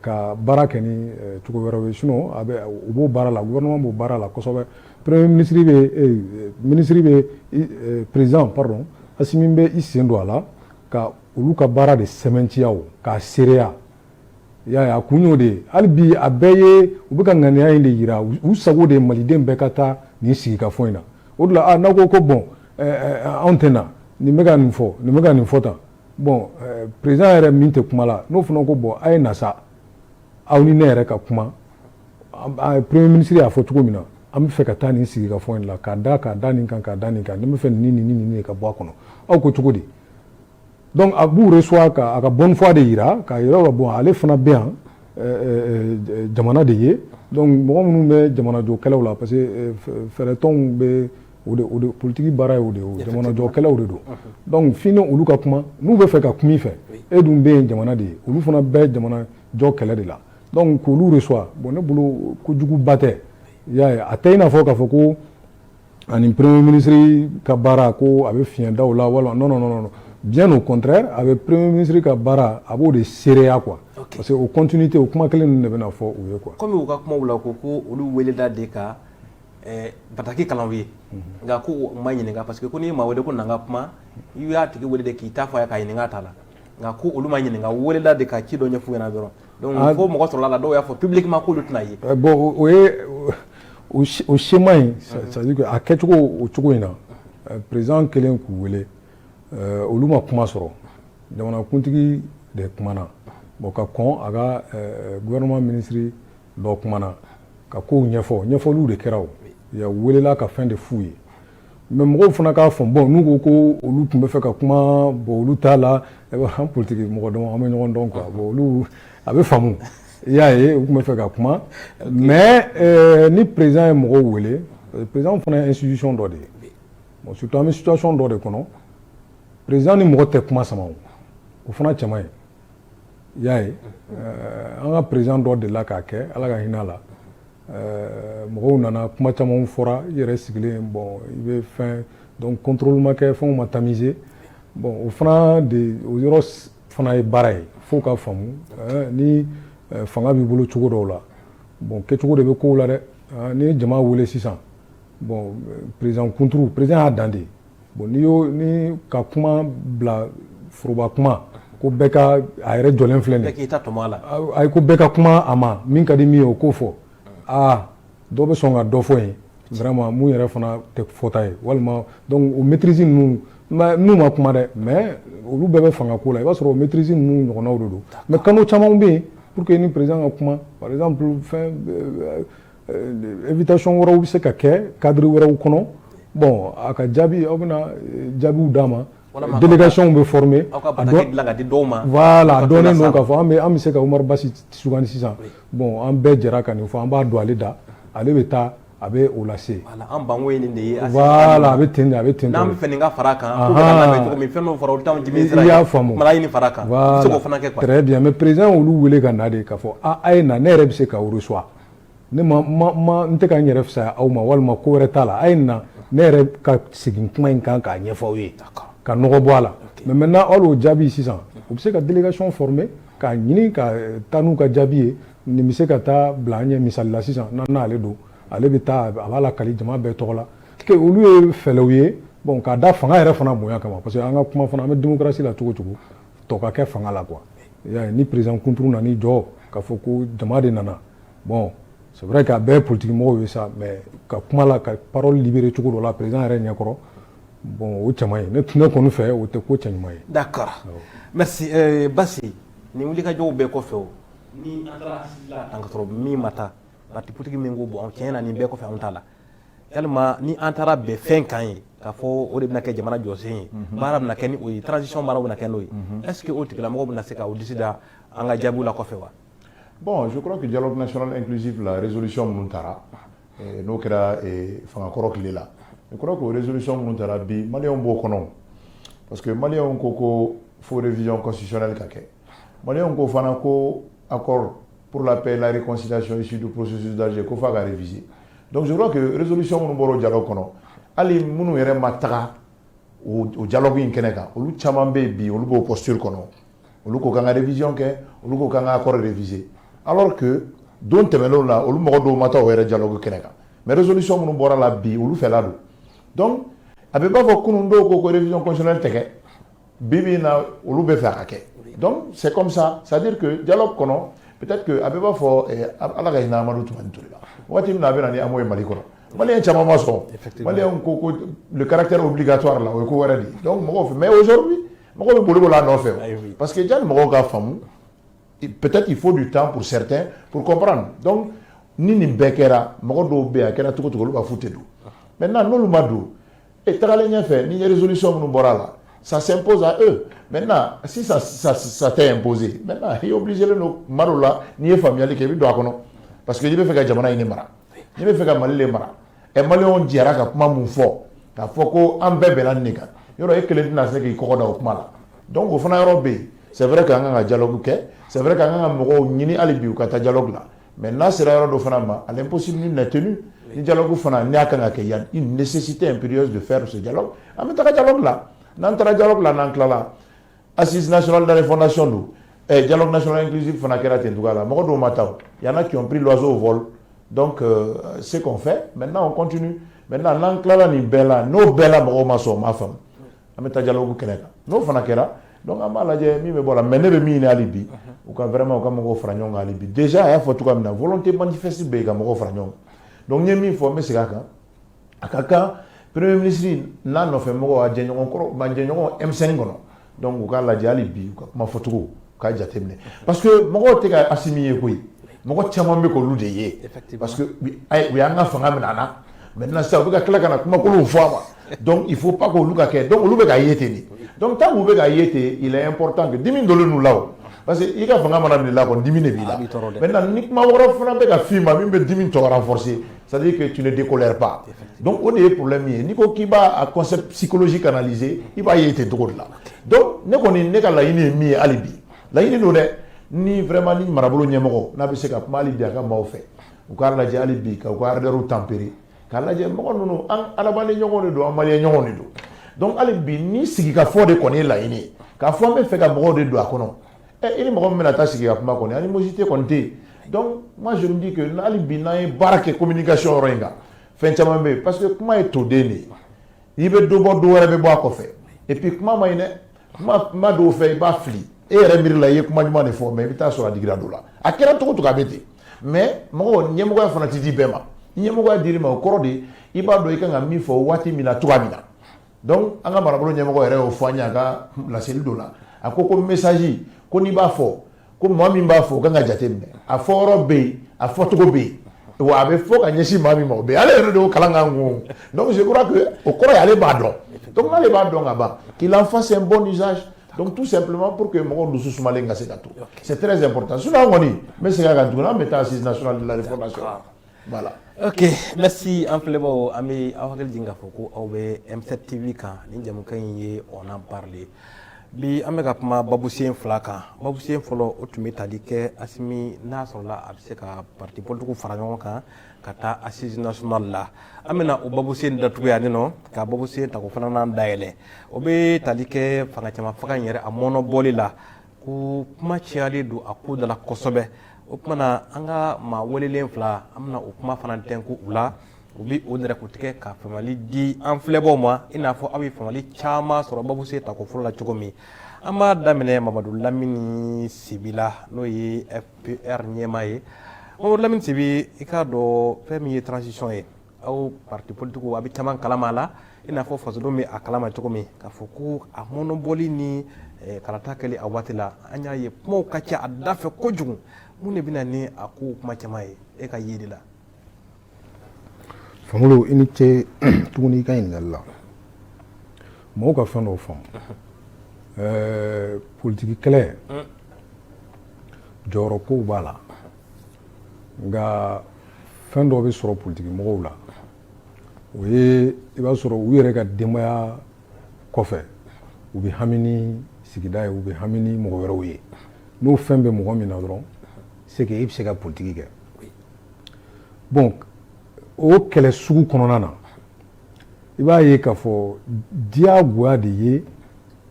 ka baara kɛ ni cogo wɛrɛw ye sinon u b'o baara la gouvernement b'o baara la kosɛbɛ premier minisiri bɛ président pardon Assimi bɛ i sen don a la ka olu ka baara de sɛmɛntiya k'a seereya i y'a ye a kun y'o de ye hali bi a bɛɛ ye u bɛ ka ŋaniya in de yira u sago de ye maliden bɛɛ ka taa nin sigikafɔ in na o de la n'aw ko bon anw tɛ na nin bɛ ka nin fɔ nin bɛ ka nin fɔ tan bon eh, président yɛrɛ min tɛ kuma la n'o fana ko bon a ye na sa aw ni ne yɛrɛ ka kuma premier minisiri y'a fɔ cogo min na an bɛ fɛ ka taa nin sigikafɔ in la k'a da k'a da nin kan k'a da nin kan ne bɛ fɛ nin nin nin nin ka bɔ a kɔnɔ aw ko cogo di donc a b'u reçoit ka a ka bonne foi de yira k'a yira ko bon ale fana bɛ yan eh, eh, jamana de ye donc mɔgɔ minnu bɛ jamanajɔ kɛlɛ la parce que fɛɛrɛtɔnw bɛ o de o de politigi baara ye o de ye o jamanajɔkɛlaw de don donc f'i ni olu ka kuma n'u bɛ fɛ ka kuma i fɛ e dun bɛ yen jamana de ye olu fana bɛ jamanajɔ kɛlɛ de la donc k'olu reçoit bon ne bolo kojuguba tɛ i y'a ye a tɛ i n'a fɔ k'a fɔ ko ani premier ministre ka baara ko a bɛ fiɲɛ da o la walima non non non bien au contraire a bɛ premier ministre ka baara a b'o de seereya quoi parce que o continuité o kuma kelen ninnu de bɛna fɔ u ye quoi komi u ka kumaw la ko ko olu welela de ka bataki kalan u ye nka ko u ma ɲininka parce que ko n'i ye maa wele ko na n ka kuma i y'a tigi wele de k'i ta fɔ a ye k'a ɲininka a ta la nka ko olu ma ɲininka u welela de ka ci dɔ ɲɛf'u ɲɛna dɔrɔn donc fo mɔgɔ sɔrɔla u la dɔw y'a fɔ publiquement k'olu tɛ na yen bon o ye o schéma ye c'est à dire que a kɛcogo o cogo in na président kɛlen k'u wele olu ma kuma sɔrɔ jamanakuntigi de kumana bon ka kɔn a ka gouvernement ministre dɔ kumana ka kow ɲɛfɔ ɲɛfɔliw de kɛra o ya welela ka fɛn de f'u ye mais mɔgɔw fana k'a fɔ bon n'u ko ko olu tun bɛ fɛ ka kuma bon olu t'a la an politigi mɔgɔ dama an bɛ ɲɔgɔn dɔn quoi bon olu a bɛ faamu i y'a ye u tun bɛ fɛ ka kuma mais ni président ye mɔgɔw wele président fana ye institution dɔ de ye bon surtout an bɛ situation dɔ de kɔnɔ président ni mɔgɔ tɛ kuma sama o fana cɛ man ɲi i y'a ye eh, an ka président dɔ delila k'a kɛ ala ka hinɛ a la eh, mɔgɔw nana kuma camanw fɔra i yɛrɛ sigilen bon i bɛ fɛn donc contrôle ma kɛ fɛnw ma tamisé bon o fana de o yɔrɔ fana ye baara ye fo u k'a faamu eh, ni fanga b'i bolo cogo dɔw la bon kɛcogo de bɛ kow la dɛ n'i ye jama wele sisan bon président kunturu président y'a dan de ye Bon n'i y'o ni ka kuma bila foroba kuma ko bɛɛ ka a yɛrɛ jɔlen filɛ k'i ta tɔmɔ a la ayi ko bɛɛ ka kuma a ma min ka di min ye o k'o fɔ aa dɔ bɛ sɔn ka dɔ fɔ yen vraiment min yɛrɛ fana tɛ fɔta ye walima o maîtrise ninnu n'u ma kuma dɛ mais olu bɛɛ bɛ fanga ko la i b'a sɔrɔ o maîtrise ninnu ɲɔgɔnnaw de don mais canaux caman bɛ yen pour que u ni président ka kuma par exemple fɛn invitation wɛrɛw bɛ se ka kɛ cadre wɛrɛw kɔnɔ bon a ka jaabi aw bɛna jaabiw d'a ma délégation bɛ former aw ka bataki dilan k'a di dɔw ma voilà a dɔnnen don k'a fɔ an bɛ se ka Umaru Basi sugandi sisan bon an bɛɛ jɛra ka nin fɔ an b'a don ale da ale bɛ taa a bɛ o lase an bɛnkan ye nin de ye a bɛ ten a bɛ ten n'an bɛ fɛ nin ka fara a kan fɛn fara y'a faamu ɲini fara a kan fana bien mais président olu wele ka na de k'a fɔ a ye na ne yɛrɛ bɛ se k'aw reçoit ne ma ma ma n tɛ ka n yɛrɛ fisaya aw ma walima ko wɛrɛ t'a la a ye na ne yɛrɛ ka segin kuma in kan k'a ɲɛfɔ aw ye ka nɔgɔ bɔ a la mais maintenant hali o jaabi sisan u bɛ se ka délégation former k'a ɲini ka taa n'u ka jaabi ye nin bɛ se ka taa bila an ɲɛ misali la sisan n' n'ale don ale bɛ taa a b'a lakali jama bɛɛ tɔgɔ la olu ye fɛlɛw ye bon k'a da fanga yɛrɛ fana bonya kama parce que an ka kuma fana an bɛ démocratie la cogo cogo tɔ ka kɛ fanga la quoi ni président kunturu nana i jɔ k'a fɔ ko jama de nana bon c'est vrai que a bɛɛ ye politique mɔgɔw ye sa mais ka kuma la ka parole libérer cogo dɔ la président yɛrɛ ɲɛkɔrɔ bon o cɛ man ɲi ne ne kɔni fɛ o tɛ ko cɛ ɲuman ye. d'accord merci euh, Basi nin wulikajɔw bɛɛ kɔfɛ o ni an taara an ka sɔrɔ min ma taa parti politique min ko bon tiɲɛ na nin bɛɛ kɔfɛ anw t'a la. yalima ni an taara bɛn fɛn kan ye k'a fɔ o de bɛna kɛ jamana jɔsen ye mhm. baara bɛna kɛ ni o ye transition baara bɛna kɛ n'o ye mhm. est ce que o tigilamɔgɔ bɛna se ka o disi da an ka jaabiw la kɔfɛ wa bon je crois que dialogue national inclusif la résolution minnu tara eh, n'o kɛra eh, fangakɔrɔ tile la je crois que o résolution minnu tara bi maliyɛnw b'o kɔnɔ parce que maliyɛnw ko ko fo révision constitutionnelle ka kɛ maliyɛnw ko fana ko accord pour la paix et la réconciliation issue du processus d'Alger ko f'a ka réviser donc je crois que résolution minnu bɔra o dialogue kɔnɔ hali minnu yɛrɛ ma taga o dialogue in kɛnɛ kan olu caman bɛ yen bi olu b'o posture kɔnɔ olu ko k'an ka révision kɛ olu ko k'an ka accord réviser alors que don tɛmɛnenw la olu mɔgɔ dɔw ma taa o yɛrɛ dialogue kɛnɛ kan mais résolution minnu bɔra a la bi olu fɛla don donc a bɛ b'a fɔ kunun dɔw ko ko révision constitutionnelle tɛ kɛ Bi bi in na olu bɛ fɛ a ka kɛ donc c'est comme ça c'est à dire que dialogue kɔnɔ peut être que a bɛ b'a fɔ Ala ka hinɛ Amadu Tumani Ture la waati min na a bɛ na ni AMO ye Mali kɔnɔ maliyɛn caman ma sɔn maliyɛnw ko ko le caractère obligatoire la o ye ko wɛrɛ de ye donc mɔgɔw fɛ mais aujourd'hui mɔgɔw bɛ boli boli a nɔfɛ parce que jani mɔgɔw k'a faamu peut être il faut du temps pour certains pour comprendre donc ni nin bɛɛ kɛra mɔgɔ dɔw bɛ yen a kɛra cogo cogo olu b'a fɔ u tɛ don maintenant n'olu ma don Et tagalen ɲɛfɛ ni résolution minnu bɔra a la ça s'impose à eux maintenant si ça ça ça t'est imposé maintenant i obligé len don tuma dɔw la n'i ye faamuyali kɛ i bɛ don a kɔnɔ parce que n'i bɛ fɛ ka jamana in de mara n'i bɛ fɛ ka Mali le mara ɛ maliyɛnw jɛra ka kuma min fɔ k'a fɔ ko an bɛɛ bɛnna nin de kan yɔrɔ e kelen tɛna se k'i kɔgɔ da o kuma la donc o fana yɔrɔ bɛ yen c'est vrai que an kan ka dialogue kɛ c'est vrai que an kan ka mɔgɔw ɲini hali bi u ka taa dialogue la mɛ n'a sera yɔrɔ dɔ fana ma ale psi ni nt ni jalo fana n y'a kan ka kɛ yan nisi tɛ in pereiri de fɛɛrɛ ja an bɛ taga ja la n'an taara jalo la n'an tilala a sinsinanaona dalen fɔnda son don ɛ jalo nasona insi fana kɛra ten cogoya a la mɔgɔ dɔw ma taa yan na cɔnpri lazo fɔ dɔn se fɛ mɛ n'an kɔnt mɛ n'an tilala nin bɛɛ la n'o bɛɛ la mɔgɔw ma sɔn o ma faamu an bɛ taa dialogue kɛnɛ kan n'o fana kɛra donc an b'a lajɛ min bɛ bɔ la mais ne bɛ min ɲini hali bi u ka vraiment u ka mɔgɔw fara ɲɔgɔn kan hali bi déjà a y'a fɔ cogoya min na volonté manifeste bɛ yen ka mɔgɔw fara ɲɔgɔn kan donc n ye min fɔ n bɛ segin a kan a ka kan premier ministre n'a nɔfɛ mɔgɔw a jɛɲɔgɔn kɔrɔ ma jɛɲɔgɔn M5 kɔnɔ donc u k'a lajɛ hali bi u ka kuma fɔcogo Ka jate minɛ parce que mɔgɔw tɛ ka asimi ye koyi mɔgɔ caman bɛ k'olu de ye u y'an ka fanga minɛ an na maintenant sisan u bɛ ka tila ka na kumakolon fɔ an ma il faut pas que olu ka kɛ donc olu bɛ k'a ye ten donc tant u bɛ k'a ye ten important dimi dɔ ninnu la parce que i ka fanga mana minɛ i la dimi de b'i la maintenant ni kuma wɛrɛ fana bɛ ka fɔ i ma min bɛ dimi tɔ renforcer ça veut dire que tu ne décolères pas donc o de ye problème ye n'i ko k'i b'a côté psychologique analyser i b'a ye ten cogo la donc ne kɔni ne ka laɲini ye min ye hali bi laɲini don dɛ ni vraiment ni marabolo ɲɛmɔgɔ n'a bɛ se ka kuma hali bi a ka maaw fɛ u k'a lajɛ hali bi ka u ka ardeur tempérer k'a lajɛ mɔgɔ ninnu an adamaden ɲɔgɔn de don an maliyɛn ɲɔgɔn de don donc hali bi ni sigikafɔ de kɔni ye laɲini ye k'a fɔ an b'a fɛ ka mɔgɔw de don a kɔnɔ ɛ i ni mɔgɔ min bɛna taa sigi ka kuma kɔni animosité kɔni tɛ yen donc moi je me dis que hali bi n'an ye baara kɛ communication yɔrɔ in kan fɛn caman bɛ yen parce que kuma ye toden de ye i bɛ dɔ bɔ dɔ wɛrɛ bɛ bɔ a kɔfɛ et puis kuma man ɲi dɛ maa dɔw fɛ i b'a fili e yɛrɛ miiri la i ye kuma ɲuman de fɔ mais i bɛ taa sɔrɔ a digira dɔ la a kɛra cogo cogo a bɛ ten mais mɔgɔ ɲɛmɔgɔya fana tɛ di bɛɛ ma ni ɲɛmɔgɔya dir'i ma o kɔrɔ de i b'a dɔn i kan ka min fɔ waati min na cogoya min na donc an ka marabolo ɲɛmɔgɔ yɛrɛ y'o fɔ an ye a ka laseli dɔ la a ko ko message ko n'i b'a fɔ ko maa min b'a fɔ o kan ka jate minɛ a fɔ yɔrɔ bɛ yen a fɔcogo bɛ yen wa a bɛ fɔ ka ɲɛsin maa min ma o bɛ ale yɛrɛ de y'o kalan k'an kun donc je crois que o kɔrɔ ye ale b'a dɔn donc n'ale b'a dɔn ka ban qu'il en fasse un bon usage donc tout simplement pour que mɔgɔw dusu sumalen ka se ka to c'est très important sinon an kɔni n bɛ segin a kan tuguni an bɛ taa assise nationale de la refondation Voilà. Ok, merci an filɛbaw, an bɛ aw hakili jigin k'a fɔ ko aw bɛ M7 TV kan ni jɛmukan in ye on en parle bi an bɛ ka kuma babusen fila kan babusen fɔlɔ o tun bɛ tali kɛ asimi n'a sɔrɔla a bɛ se ka parti politikiw fara ɲɔgɔn kan ka taa assise nationale la an bɛna o babusen datugu yan nɔ ka babusen tako filanan dayɛlɛ o bɛ tali kɛ fanga cɛma fanga in yɛrɛ a mɔɔnɔbɔli la ko kuma cayalen don a ko dala kosɛbɛ o tuma na an ka maa welelen fila an bɛna o kuma fana tɛn ko u la u bɛ o nɛrɛ tigɛ ka famali di an filɛbaw ma i n'a fɔ aw ye famali caman sɔrɔ babusen tako fɔlɔ la cogo min an b'a daminɛ mamadu lamini sibi la n'o ye fpr ɲɛmaa ye mamadu lamini sibi i k'a dɔn fɛn min ye transition ye aw parti politique a bɛ caman kalama la i n'a fɔ fasodenw bɛ a kalama cogo min k'a fɔ ko a mɔnɔbɔli ni eh, kalata kɛli a waati la an y'a ye kumaw ka ca a dafɛ kojugu mun de bɛna ni a kow kuma caman ye e ka yeli la Famolo i ni ce tuguni i ka ɲininkali la mɔgɔw ka fɛn dɔ faamu eh, politiki kɛlɛ jɔyɔrɔ kow b'a la nka fɛn dɔ bɛ sɔrɔ politiki mɔgɔw la o ye i b'a sɔrɔ u yɛrɛ ka denbaya kɔfɛ u bɛ hami ni sigida ye u bɛ hami ni mɔgɔ wɛrɛw ye n'o fɛn bɛ mɔgɔ min na dɔrɔn c'est que i bɛ se ka politiki kɛ bon o kɛlɛ sugu kɔnɔna na i b'a ye k'a fɔ diyagoya de ye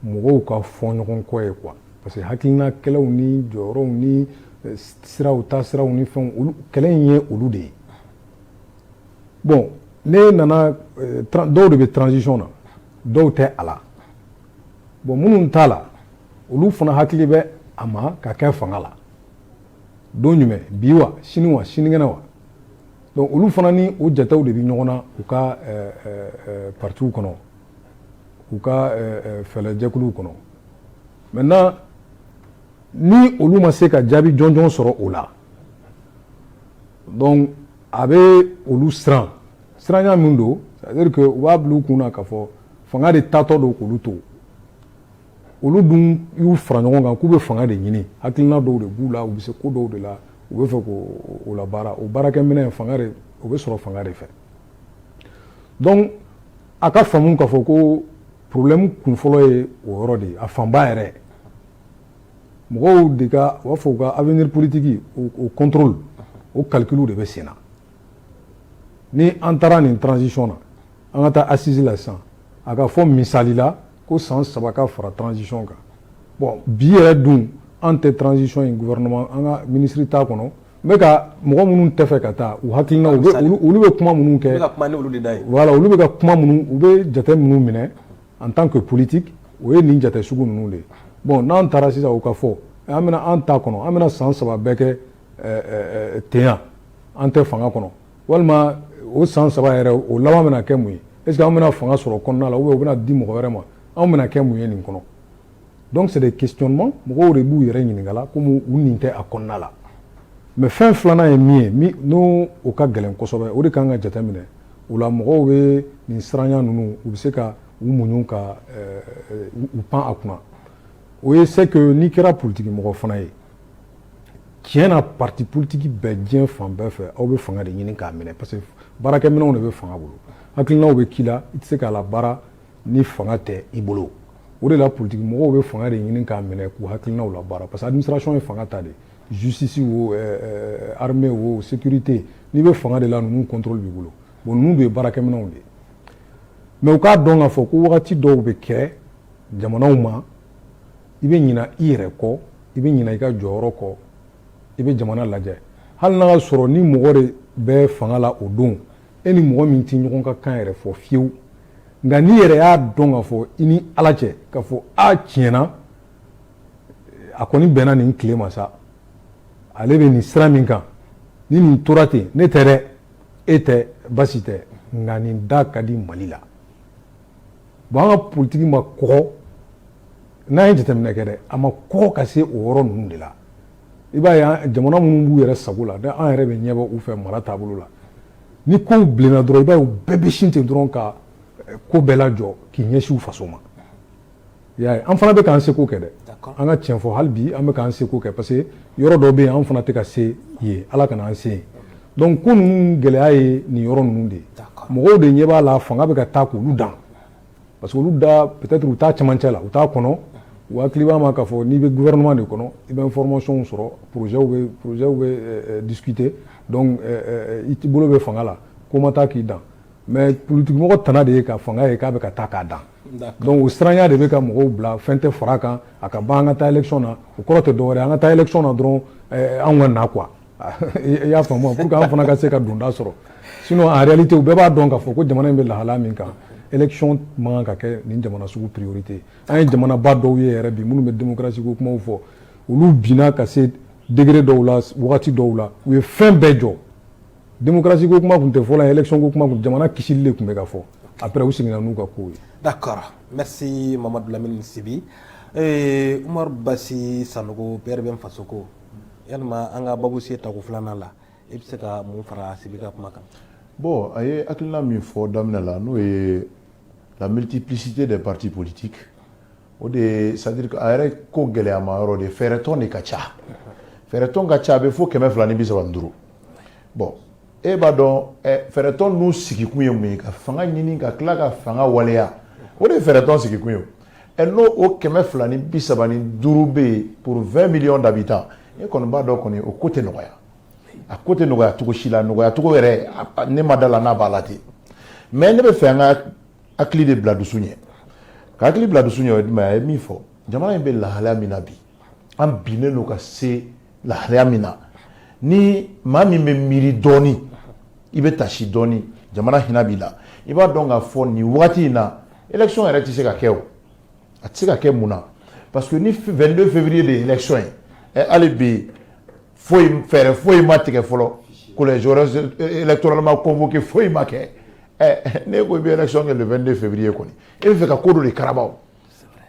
mɔgɔw ka fɔ ɲɔgɔn kɔ ye quoi parce que hakilina kɛlɛw ni jɔyɔrɔw ni eh, siraw taasiraw ni fɛnw olu kɛlɛ in ye olu de ye bon ne nana eh, dɔw de bɛ transition na dɔw tɛ a la bon minnu t'a la olu fana hakili bɛ a ma ka kɛ fanga la don jumɛn bi wa sini wa sinikɛnɛ wa olu fana ni o jatew de bɛ ɲɔgɔn na u ka partiw kɔnɔ u ka fɛlɛjɛkuluw kɔnɔ maintenant ni olu ma se ka jaabi jɔnjɔn sɔrɔ o la donc a bɛ olu siran siranya min don c'est à dire que u b'a bila u kun na k'a fɔ fanga de taatɔ don k'olu to olu dun y'u fara ɲɔgɔn kan k'u bɛ fanga de ɲini hakilina dɔw de b'u la u bɛ se ko dɔw de la u bɛ fɛ k'o labaara o baarakɛminɛn fanga de o bɛ sɔrɔ fanga de fɛ donc a ka faamu k'a fɔ ko problème kun fɔlɔ ye o yɔrɔ de ye a fanba yɛrɛ mɔgɔw de ka u b'a fɔ u ka avenir politique o contrôle o calcul de bɛ sen na ni an taara nin transition na an ka taa assise la sisan a ka fɔ misali la ko san saba ka fara transition kan bon bi yɛrɛ dun an tɛ transition in gouvernement an ka ministre t'a kɔnɔ n bɛ ka mɔgɔ minnu tɛ fɛ ka taa u hakilina olu bɛ kuma minnu kɛ wala olu bɛ ka kuma minnu u bɛ jate minnu minɛ en tant que politique o ye nin jate sugu ninnu de ye bon n'an taara sisan u ka fɔ an bɛna an ta kɔnɔ an bɛna san saba bɛɛ kɛ ten yan an tɛ fanga kɔnɔ walima o san saba yɛrɛ o laban bɛna kɛ mun ye est ce que an bɛna fanga sɔrɔ kɔnɔna la ou bien o bɛna di mɔgɔ wɛrɛ ma an bɛna kɛ mun ye nin kɔnɔ donc c'est des questionnements mɔgɔw de b'u yɛrɛ ɲininka la komi u nin tɛ a kɔnɔna la mais fɛn filanan ye min ye n'o o ka gɛlɛn kosɛbɛ o de kan ka jate minɛ o la mɔgɔw bɛ nin siranya ninnu u bɛ se ka u muɲu ka u pan a kunna o ye c'est que n'i kɛra politigi mɔgɔ fana ye tiɲɛ na parti politique bɛɛ diɲɛ fan bɛɛ fɛ aw bɛ fanga de ɲini k'a minɛ parce que baarakɛminɛnw de bɛ fanga bolo hakilinaw bɛ k'i la i tɛ se k'a labaara ni fanga tɛ i bolo o de la politigi mɔgɔw bɛ fanga de ɲini k'a minɛ k'u hakilinaw labaara parce que administration ye fanga ta de justice wo armée wo sécurité n'i bɛ fanga de la ninnu contrôle b'i bolo bon ninnu de ye baarakɛminɛnw de ye mais u k'a dɔn k'a fɔ ko wagati dɔw bɛ kɛ jamanaw ma i bɛ ɲina i yɛrɛ kɔ i bɛ ɲina i ka jɔyɔrɔ kɔ i bɛ jamana lajɛ hali n'a y'a sɔrɔ ni mɔgɔ de bɛ fanga la o don e ni mɔgɔ min tɛ ɲɔgɔn ka kan yɛrɛ fɔ fiyewu nka n'i yɛrɛ y'a dɔn k'a fɔ i ni ala cɛ k'a fɔ a tiɲɛ na a kɔni bɛnna nin tile ma sa ale bɛ nin sira min kan ni nin tora ten ne tɛ dɛ e tɛ basi tɛ nka nin da ka di mali la bon an ka politiki ma kɔgɔ n'an ye jateminɛ kɛ dɛ a ma kɔgɔ ka se o yɔrɔ ninnu de la i b'a ye jamana minnu b'u yɛrɛ sago la dɛ an yɛrɛ bɛ ɲɛbɔ u fɛ mara taabolo la ni kow bilenna dɔrɔn i b'a ye u bɛɛ bɛ sin ten dɔrɔn ka eh, ko bɛɛ lajɔ k'i ɲɛsin u faso ma i y'a ye an fana bɛ k'an seko kɛ dɛ an ka tiɲɛ fɔ hali bi an bɛ k'an seko kɛ parce que yɔrɔ dɔ bɛ yen an fana tɛ ka se yen ala kana an se yen Donc ko ninnu gɛlɛya ye nin yɔrɔ ninnu de ye, d'accord, mɔgɔw de ɲɛ b'a la fanga bɛ ka taa k'olu dan parce que olu da peut-être u t'a cɛmancɛ la, u t'a kɔnɔ, u hakili b'a ma k'a fɔ n'i bɛ gouvernement de kɔnɔ i bɛ information sɔrɔ projets bɛ projets bɛ discuter donc i bolo bɛ fanga la ko ma taa k'i dan mais politikimɔgɔ tana de ye ka fanga ye k'a bɛ ka taa k'a dan donc o siranya de bɛ ka mɔgɔw bila fɛn tɛ fara a kan a ka ban an ka taa élection na o kɔrɔ tɛ dɔwɛrɛ ye an ka taa élection na dɔrɔn anw ka na quoi I y'a faamu pour que an fana ka se ka donda sɔrɔ sinon en réalité u bɛɛ b'a dɔn k'a fɔ ko jamana in bɛ lahala min kan élection man ka kɛ nin jamana sugu priorité an ye jamanaba dɔw ye yɛrɛ bi minnu bɛ démocratie kuma fɔ olu binna ka se degré dɔw la waati dɔw la u ye fɛn bɛɛ jɔ démocratie kuma tun tɛ fɔ élection kuma jamana kisili de tun bɛ ka fɔ après u seginna n'u ka kow ye d'accord merci mamadu lamini sibi ee basi sanogo PRVM fasoko yalima an ka babu se tako filanan la i bɛ se ka mun fara sibi ka kuma kan bon a ye hakilina min fɔ daminɛ la n'o ye la multiplicité des partis politiques o de ye c'est-à-dire a yɛrɛ ko gɛlɛyama yɔrɔ de fɛɛrɛtɔn de ka ca fɛɛrɛtɔn ka ca a bɛ fo kɛmɛ fila ni bi saba ni duuru bon e b'a dɔn fɛɛrɛtɔn n'u sigikun ye mun ye ka fanga ɲini ka tila ka fanga waleya o de ye fɛɛrɛtɔn sigikun ye n'o o kɛmɛ fila ni bi saba ni duuru bɛ yen pour 20 millions d'habitants e kɔni b'a dɔn kɔni o ko tɛ nɔgɔya a ko tɛ nɔgɔya cogo si la nɔgɔya cogo yɛrɛ ne ma da a la n'a b'a la ten mais ne bɛ fɛ an ka hakili de bila dusu ɲɛ ka hakili bila dusu ɲɛ o ye jumɛn ye a ye min fɔ jamana in bɛ lahalaya min na bi an binnen don ka se lahalaya min na ni maa min bɛ miiri dɔɔni i bɛ tasi dɔɔni jamana hinɛ b'i la i b'a dɔn k'a fɔ nin wagati in na élection yɛrɛ tɛ se ka kɛ o a tɛ se ka kɛ mun na parce que ni 22 février de ye élection ye ɛ hali bi foyi fɛɛrɛ foyi ma tigɛ fɔlɔ collège électoral ma convoqué foyi ma kɛ ɛ n'e ko i bɛ élection kɛ le 22 février kɔni e bɛ fɛ ka ko dɔ de karaba o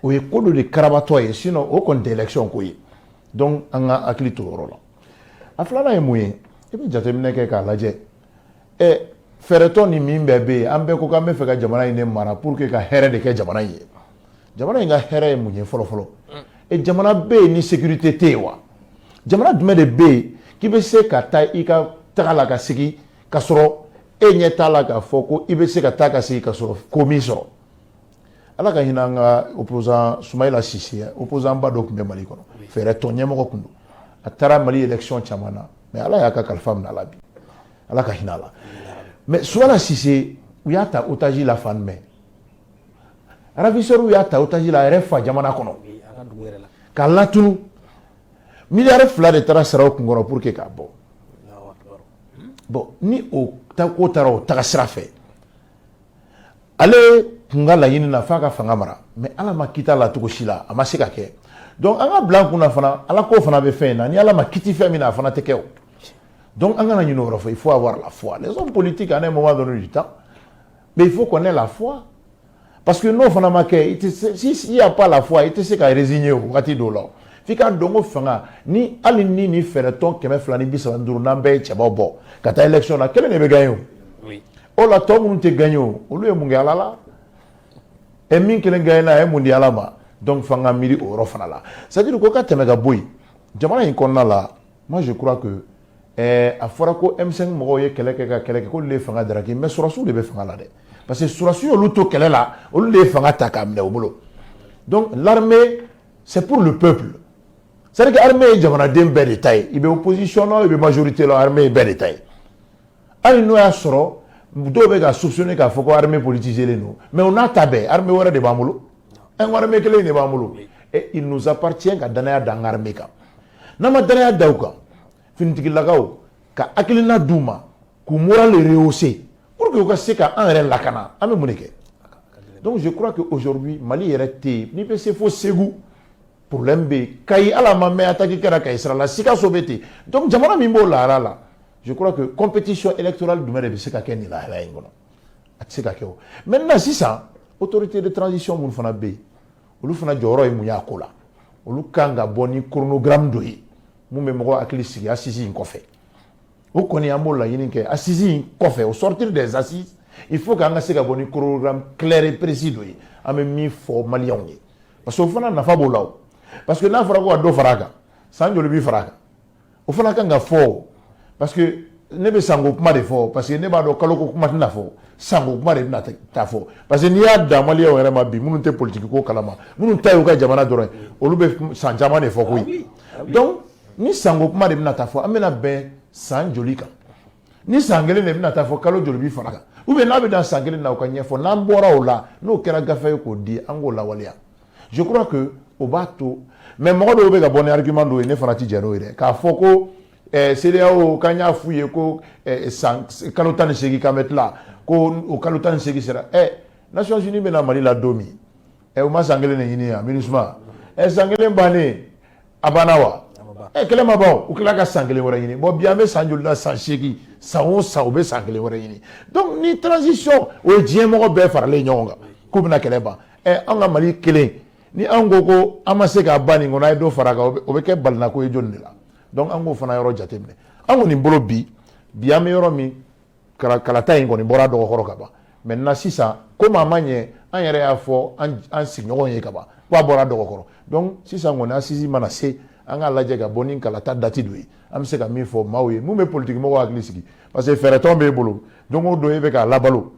o ye ko dɔ de karabatɔ ye sinon o kɔni tɛ élection ko ye donc an ka hakili to o yɔrɔ la a filanan ye mun ye i bɛ jateminɛ kɛ k'a lajɛ ɛ fɛɛrɛtɔn in min bɛɛ bɛ yen an bɛɛ ko k'an bɛ fɛ ka jamana in de mara pour que ka hɛrɛ de kɛ jamana in ye jamana in ka hɛrɛ ye mun ye fɔlɔ fɔlɔ e jamana bɛ yen ni sécurité tɛ yen wa jamana jumɛn de bɛ yen k'i bɛ se ka taa i ka taga la ka segin ka sɔrɔ e ɲɛ t'a la k'a fɔ ko i bɛ se ka taa ka segin ka sɔrɔ ko m'i sɔrɔ ala ka hinɛ an ka opposant sumayila sise opposantba dɔ tun bɛ mali kɔnɔ fɛɛrɛtɔn ɲɛmɔgɔ tun don a taara mali élection caman na mais ala y'a ka kalifa minɛ a la bi ala ka hinɛ a la mais sumayila sise u y'a ta otage la fan mɛn ravisseur y'a ta otage la a yɛrɛ fa jamana kɔnɔ k'a latunu miliyari fila de taara sara o kun kɔrɔ pour que k'a bɔ bon ni o ko taara o taga sira fɛ ale kun ka laɲini na f'a ka fanga mara mais ala ma kiti a la cogo si la a ma se ka kɛ donc an k'a bila an kun na fana ala ko fana bɛ fɛn in na ni ala ma kiti fɛn min na a fana tɛ kɛ o donc an kana ɲinɛ o yɔrɔ kɔ il faut avoir la foi les hommes politiques à un moment donné du temps mais il faut qu'on ait la foi parce que n'o fana ma kɛ i tɛ se si il y a pas la foi i tɛ se ka résigner o wagati dɔw la o f'i k'a dɔn ko fanga ni hali ni nin fɛɛrɛtɔn kɛmɛ fila ni bi saba ni duuru n'an bɛɛ ye cɛbaw bɔ ka taa élection na kelen de bɛ gagner o. o la tɔ minnu tɛ gagner o olu ye mun kɛ ala la ɛ min kelen gagner na a ye mun di ala ma donc f'an ka miiri o yɔrɔ fana la c'est à dire ko ka tɛmɛ ka bɔ yen jamana in kɔnɔna la moi je crois que eh, a fɔra ko M5 mɔgɔw ye kɛlɛ kɛ ka kɛlɛ kɛ k'olu de ye fanga daraki mais sɔrɔdasiw de bɛ fanga la dɛ parce que sɔrɔdasiw y'olu to kɛlɛ la olu de ye fanga ta k'a minɛ u bolo donc l'armée c'est pour le peuple c'est à dire que armée ye jamanaden bɛɛ de ta ye i bɛ opposition la i bɛ majorité la armée ye bɛɛ de ta ye hali n'o y'a sɔrɔ dɔw bɛ ka soupçonner k'a fɔ ko armée politiselen don mais o n'a ta bɛɛ armée wɛrɛ de b'an bolo an ka armée kelen de b'an bolo et il nous appartient ka danaya da an ka armée kan n'an ma danaya da u kan finitigilakaw ka hakilina d'u ma k'u moral rehausser pour que u ka se ka an yɛrɛ lakana an bɛ mun de kɛ donc je crois que aujourd'hui Mali yɛrɛ tɛ yen n'i bɛ se fo Segu problème bɛ yen Kayi hali a ma mɛn attaque kɛra Kayi sira la Sikaso bɛ ten donc jamana min b'o lahala la je crois que compétition électorale jumɛn de bɛ se ka kɛ nin lahala in kɔnɔ a tɛ se ka kɛ o maintenant sisan autorité de transition minnu fana bɛ yen olu fana jɔyɔrɔ ye mun y'a ko la olu kan ka bɔ ni chronogramme dɔ ye mun bɛ mɔgɔ hakili sigi assise in kɔfɛ o kɔni an b'o laɲini kɛ assise in kɔfɛ au sortir des assises il faut k'an ka se ka bɔ ni chronogramme clair et précis dɔ ye an bɛ min fɔ maliyɛnw ye parce que o fana nafa b'o la o parce que n'a fɔra ko ka dɔ fara a kan san joli bi fara a kan o fana kan ka fɔ parce que ne bɛ sanko kuma de fɔ parce que ne b'a dɔn kaloko kuma tɛna fɔ sanko kuma de bɛna taa fɔ parce que n'i y'a da maliyɛnw yɛrɛ ma bi minnu tɛ politiki ko kalama minnu ta y'u ka jamana dɔrɔn ye olu bɛ san caman de fɔ koyi ah ah donc ni sanko kuma de bɛna taa fɔ an bɛna bɛn san joli kan ni san kelen de bɛna taa fɔ kalo joli bi fara a kan ou bien n'a bɛ dan san kelen na o ka ɲɛfɔ n'an bɔra o la n'o kɛra gafe ye k'o di an k'o lawaleya je crois que o b'a to mais mɔgɔ dɔw bɛ ka bɔ ni argument dɔw ye ne fana ti jɛn n'o ye dɛ k'a fɔ ko eh, CEDEAO k'an y'a f'u ye ko eh, san kalo tan ni seegin k'an bɛ tila ko o kalo tan ni seegin sera eh, Nations Unies bɛ na Mali la don min eh, u ma san kelen de ɲini yan MINUSMA eh, san kelen bannen a banna wa eh, kɛlɛ ma ban u tila ka san kelen wɛrɛ ɲini bon bi an bɛ san joli la san seegin san o san u bɛ san kelen wɛrɛ ɲini donc ni transition o ye diɲɛ mɔgɔ bɛɛ faralen ɲɔgɔn kan k'u bɛna kɛlɛ ban ɛ an ka Mali kelen ni an ko ko an ma se k'a ban nin kɔnɔ a ye dɔ fara a kan o bɛ kɛ balinako ye jɔni de la donc an k'o fana yɔrɔ jateminɛ an kɔni bolo bi bi an bɛ yɔrɔ min kalata in kɔni bɔra dɔgɔkɔrɔ ka ban maintenant sisan komi a ma ɲɛ an yɛrɛ y'a fɔ an sigiɲɔgɔn ye ka ban ko a bɔra dɔgɔkɔrɔ donc sisan kɔni assise mana se an k'a lajɛ ka bɔ ni kalata date dɔ ye an bɛ se ka min fɔ maaw ye mun bɛ politikimɔgɔw hakili sigi parce que fɛɛrɛtɔn b'e bolo don o don e bɛ k'a labalo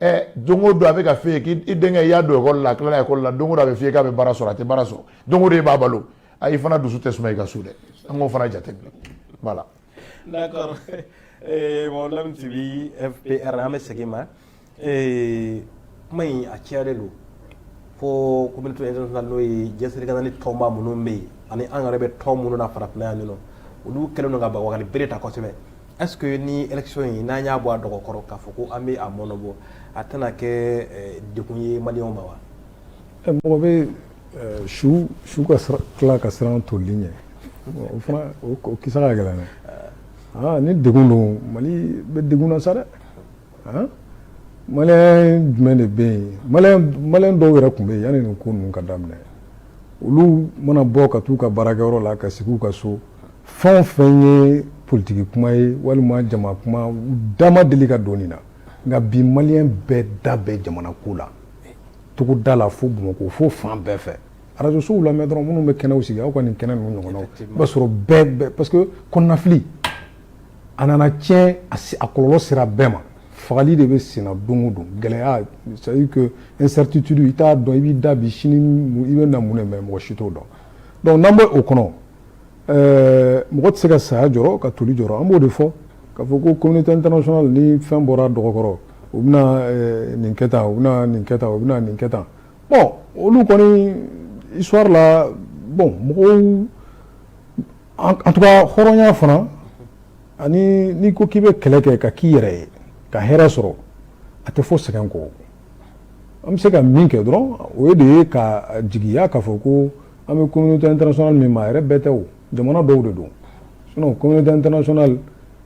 ɛ don o don a bɛ k'a f'e ye k'i denkɛ i y'a don ekɔli la a tilala ekɔli la don o don a bɛ f'i ye k'a bɛ baara sɔrɔ a tɛ baara sɔrɔ don o don e b'a balo a i fana dusu tɛ suma i ka so dɛ an k'o fana jateminɛ voilà. d'accord eh, mɔgɔlamu tibi FPR an bɛ segin ma eh, kuma in a cayalen don fo communauté internationale n'o ye diɲɛ seleke naani tɔnba minnu bɛ yen ani an yɛrɛ bɛ tɔn minnu na farafinna yan ninɔ olu kɛlen don ka bagabagali bere ta kosɛbɛ Est-ce que ni élection in n'an y'a bɔ a dɔgɔ kɔrɔ k'a fɔ ko an bɛ a mɔnɔbɔ a tɛna kɛ eh, degun ye maliyɛnw ma wa? Eh, mɔgɔ bɛ eh, su su ka tila ka siran toli ɲɛ o fana o kisa ka gɛlɛn dɛ ah, ni degun don mali bɛ degun na sa dɛ ah, maliyɛn jumɛn de bɛ yen maliyɛn dɔw yɛrɛ tun bɛ yen yanni nin ko ninnu ka daminɛ olu mana bɔ ka t'u ka baarakɛyɔrɔ la ka sigi u ka so fɛn o fɛn ye politiki kuma ye walima jama kuma da ma deli ka don nin na nka bi maliyɛn bɛɛ da bɛ jamana ko la togoda la fo bamakɔ fo fan bɛɛ fɛ arajosow lamɛn dɔrɔn minnu bɛ kɛnɛw sigi aw ka nin kɛnɛ ninnu ɲɔgɔnnaw i b'a sɔrɔ bɛɛ bɛɛ parce que kɔnɔnafili a nana tiɲɛ a kɔlɔlɔ sera bɛɛ ma fagali de bɛ senna don o don gɛlɛya c'est à dire que incertitude i t'a dɔn i b'i da bi sini i bɛ na mun de mɛ mɔgɔ si t'o dɔn donc n'an bɛ o kɔnɔ Ɛɛ mɔgɔ tɛ se ka saya jɔ ka toli jɔ an b'o de fɔ ka fɔ ko ko tɛ ntɛnasona ni fɛn bɔra dɔgɔkɔrɔ u bɛna nin kɛta u bɛna nin kɛta u bɛna nin kɛta bɔn olu kɔni isɔrɔri la bɔn mɔgɔw an tɔgɔ hɔrɔnya fana ani n'i ko k'i bɛ kɛlɛ kɛ ka k'i yɛrɛ ye ka hɛrɛɛ sɔrɔ a tɛ fɔ sɛgɛn kɔ an bɛ se ka min kɛ dɔrɔn o de ye ka jigiya ka fɔ ko an bɛ communauté internationale min ma a yɛrɛ bɛɛ tɛ o jamana dɔw de don sinon communauté internationale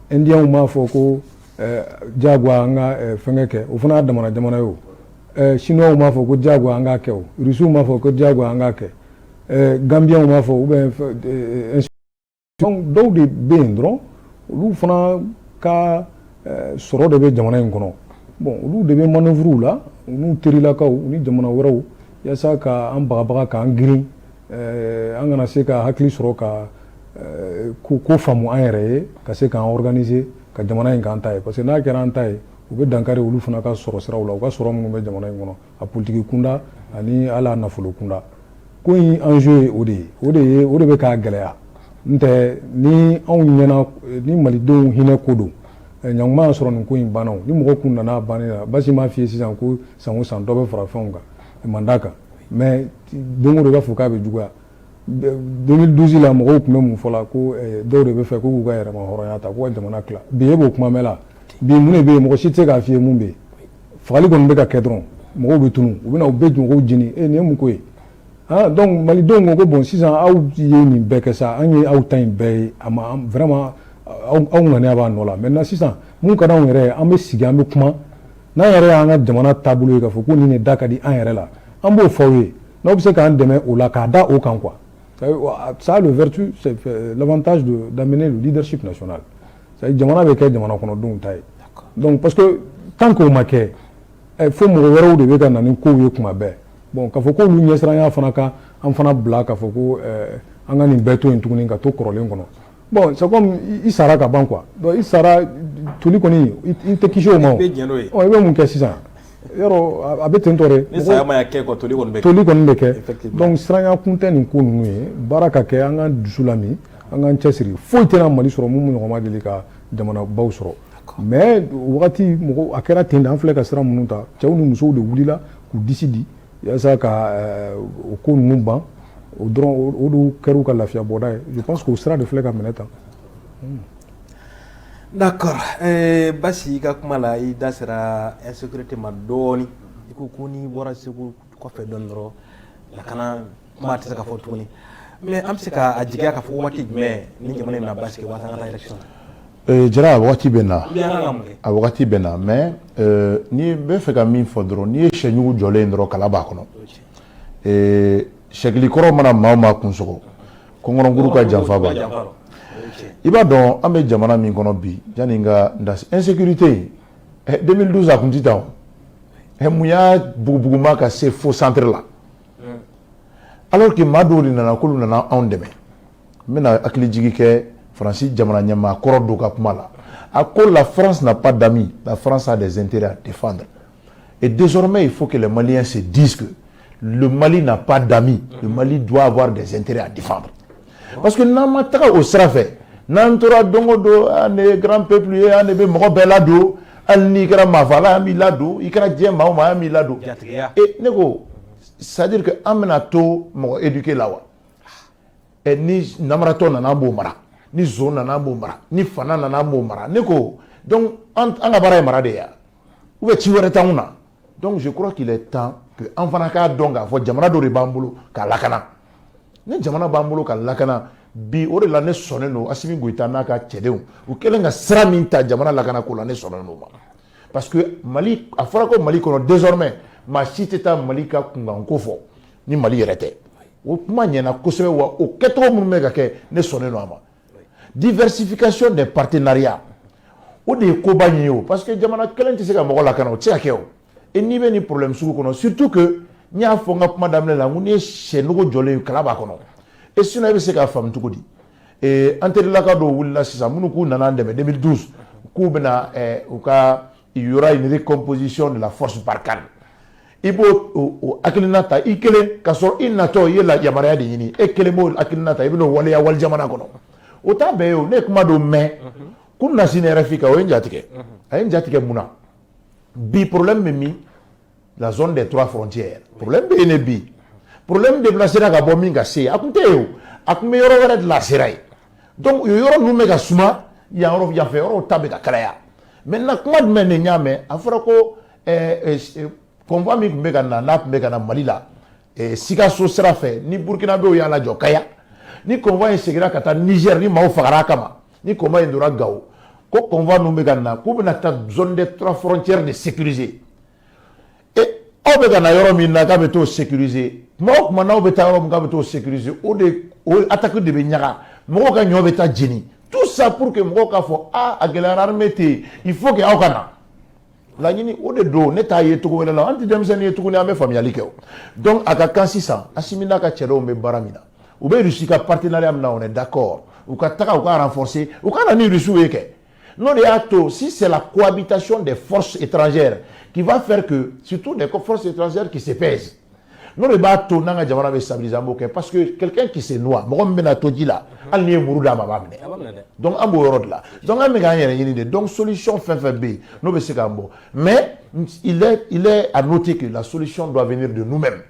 indiens m'a fɔ ko eh, jagoya an ka eh, fɛngɛ kɛ o fana y'a damana jamana ye o eh, chinois m'a fɔ ko jagoya an k'a kɛ o russiw m'a fɔ ko jagoya an k'a kɛ gambiens m'a fɔ ou bien Donc dɔw de bɛ yen dɔrɔn olu fana ka sɔrɔ de bɛ jamana in kɔnɔ bon olu de bɛ manœuvre la u n'u terilakaw ni jamana wɛrɛw yaasa ka an bagabaga k'an girin an kana se ka hakili sɔrɔ ka ko faamu an yɛrɛ ye ka se k'an organiser ka jamana in k'an ta ye parce que n'a kɛra an ta ye o bɛ dankari olu fana ka sɔrɔ siraw la u ka sɔrɔ minnu bɛ jamana in kɔnɔ a politiki kunda ani a la nafolo kunda ko in enjeu ye o de ye o de bɛ k'a gɛlɛya n tɛ ni anw ɲɛna ni malidenw hinɛ ko don ɲinan tun b'a sɔrɔ nin ko in banna ni mɔgɔ kun nana ban la basi m'a f'i ye sisan ko san o san dɔ bɛ fara fɛnw ka mandat kan mais don o don i b'a fɔ k'a bɛ juguya 2012 la mɔgɔw tun bɛ mun fɔ la ko eh, dɔw de b'a fɛ k'u ka yɛrɛmahɔrɔnya ta k'u ka jamana tila bi e b'o kuma mɛn la bi mun de bɛ yen mɔgɔ si tɛ se k'a f'i ye mun bɛ yen fagali kɔni bɛ ka kɛ dɔrɔn mɔgɔw bɛ tunu u bɛ na u bɛ mɔgɔw jeni e nin ye mun ko ye ah donc malidenw ko ko bon sisan aw ye nin bɛɛ kɛ sa an ye aw ta in bɛɛ ye a ma vraiment aw ŋaniya b'a nɔ la maintenant sisan mun ka d'anw yɛrɛ ye an bɛ sigi an bɛ kuma n'an yɛrɛ y'an ka jamana taabolo ye k'a fɔ ko nin de da ka di an yɛrɛ la an b'o fɔ aw ye N'aw bɛ se k'an dɛmɛ o la k'a da o kan quoi ça a le vertu l'avantage d'amener le leadership national jamana bɛ kɛ jamana kɔnɔdenw ta ye donc parce que tant que o ma kɛ fo mɔgɔ wɛrɛw de bɛ ka na ni kow ye kuma bɛɛ bon ka fɔ ko olu ɲɛsiranya fana ka an fana bila ka fɔ ko an ka nin bɛɛ to yen tuguni ka to kɔrɔlen kɔnɔ Bon c'est comme i sara ka ban quoi donc i sara toli kɔni i tɛ kisi o ma o, i bɛ jɛn n'o ye, ɔ i bɛ mun kɛ sisan yɔrɔ a bɛ ten tɔ de, ni saya ma kɛ quoi toli kɔni bɛ kɛ, toli kɔni bɛ kɛ effectivement, donc siranya kun tɛ nin ko ninnu ye baara ka kɛ an ka dusu lami an k'an cɛsiri foyi tɛna Mali sɔrɔ minnu ɲɔgɔn ma deli ka jamanabaw sɔrɔ mais o wagati mɔgɔw a kɛra ten de an filɛ ka sira minnu ta cɛw ni musow de wulila k'u disi di Yaasa ka o ko ninnu ban o dɔrɔn o de kɛra u ka lafiya bɔda ye je pense que o sira de filɛ ka minɛ tan d'accord basi i ka kuma la i da sera insécurité ma dɔɔnin i ko ko n'i bɔra segu kɔfɛ dɔɔnin dɔrɔn lakana kuma tɛ se ka fɔ tuguni mais an bɛ se ka a jigiya ka fɔ waati jumɛn ni jamana in na basigi waasa an ka taa élection na jara a wagati bɛ na a wagati bɛ na mais ne bɛ fɛ ka min fɔ dɔrɔn n'i ye sɛnugu jɔlen dɔrɔn kala b'a kɔnɔ sɛkili kɔrɔ mana maa o maa kun sɔgɔ kɔnkɔnkuru ka janfa b'a la i b'a dɔn an bɛ jamana min kɔnɔ bi yanni n ka n da se insécurité in 2012 a kun tɛ tan o mun y'a bugubuguma ka se fo centre la alors que maa dɔw de nana k'olu nana anw dɛmɛ n bɛna hakilijigi kɛ faransi jamana ɲɛmaa kɔrɔ dɔ ka kuma la a ko la france n'a pas d'amis la france a des intérêts à défendre et désormais il faut que les maliens se disent que le mali n'a pas d'amis le mali doit avoir des intérêts à défendre Parce que n'an ma taga o sira fɛ n'an tora don o don an de ye grand peuple ye an de bɛ mɔgɔ bɛɛ ladon hali n'i kɛra maafala an b'i ladon i kɛra diɲɛ maa o maa an b'i ladon jatigiya ee ne ko c'est à dire que an bɛna to mɔgɔ éduquer la wa ɛ ni namaratɔ nana an b'o mara ni zon nana an b'o mara ni fana nana an b'o mara ne ko donc an ka baara ye mara de ye wa ou bien ci wɛrɛ t'anw na donc je crois qu'il est temps que an fana k'a dɔn k'a fɔ jamana dɔ de b'an bolo ka lakana ni jamana b'an bolo ka lakana bi o de la ne sɔnnen don asimi goyita n'a ka cɛdenw u kɛlen ka sira min ta jamana lakana ko la ne sɔnnen don ma parce que mali a fɔra ko mali kɔnɔ désormais maa si tɛ taa mali ka kunkanko fɔ ni mali yɛrɛ tɛ o kuma ɲɛna kosɛbɛ wa o kɛcogo minnu bɛ ka kɛ ne sɔnnen don a ma diversification des partenariats o de ye koba in ye o parce que jamana kelen tɛ se ka mɔgɔ lakana o tɛ se ka kɛ o et n'i bɛ nin problème sugu kɔnɔ surtout que n y'a fɔ n ka kuma daminɛ la n ko n'i ye sɛnogo jɔlen ye kala b'a kɔnɔ et sinon e bɛ se k'a faamu cogo di ee an terilaka dɔw wulila sisan minnu k'u nana an dɛmɛ 2012 k'u bɛna u ka il y aura une recomposition de la force Barkhane i b'o o hakilina ta i kelen ka sɔrɔ i natɔ i ye la yamaruya de ɲini e kelen b'o hakilina ta i bɛn'o waleya wali jamana kɔnɔ o t'a bɛɛ ye o ne ye kuma dɔ mɛn kunasini RFI kan o ye n jatigɛ a ye n jatigɛ mun na bi problème bɛ min la zone des trois frontières problème bɛ yen ne bi problème déplacéra ka bɔ min ka se a tun tɛ yen o a tun bɛ yɔrɔ wɛrɛ de la sera yen donc o yɔrɔ ninnu bɛ ka suma yan yɔrɔ yanfɛ yɔrɔw ta bɛ ka kalaya maintenant kuma jumɛn de n y'a mɛn a fɔra ko convoi min tun bɛ ka na n'a tun bɛ ka na mali la sikaso sira fɛ ni burukinabɛw y'a lajɔ kaya ni convoi in seginna ka taa Niger ni maaw fagara a kama ni convoi in tora gawo ko convoi ninnu bɛ ka na k'u bɛna taa zone des trois frontières de sécuriser aw bɛ ka na yɔrɔ min na k'a bɛ taa sécuriser tuma o tuma n'aw bɛ taa yɔrɔ min k'a bɛ taa sécuriser o de o attaque de bɛ ɲaga mɔgɔw ka ɲɔ bɛ taa jeni tout ça pour que mɔgɔw k'a fɔ aa a gɛlɛyara armée tɛ yen il faut que aw ka na laɲini o de don ne t'a ye cogo wɛrɛ la an tɛ denmisɛnnin ye tuguni an bɛ faamuyali kɛ o donc a ka kan sisan asimi n'a ka cɛdɔw bɛ baara min na u bɛ rusi ka partenariat min na on est d'accord u ka taga u ka renforcer u ka na ni rusiw ye kɛ n'o de y'a to si c'est la cohabitation des forces étrangères qui va faire que surtout des forces étrangères qui se pèsent n'o de b'a to n'an ka jamana bɛ stabiliser an b'o kɛ parce que quelqu'un qui se noie mɔgɔ min bɛna to ji la hali n'i ye muru d'a ma a b'a minɛ donc an b'o yɔrɔ de la donc an bɛ k'an yɛrɛ ɲini de donc solution fɛn fɛn bɛ yen n'o bɛ se k'an bɔ mais il est il est à noter que la solution doit venir de nous-mêmes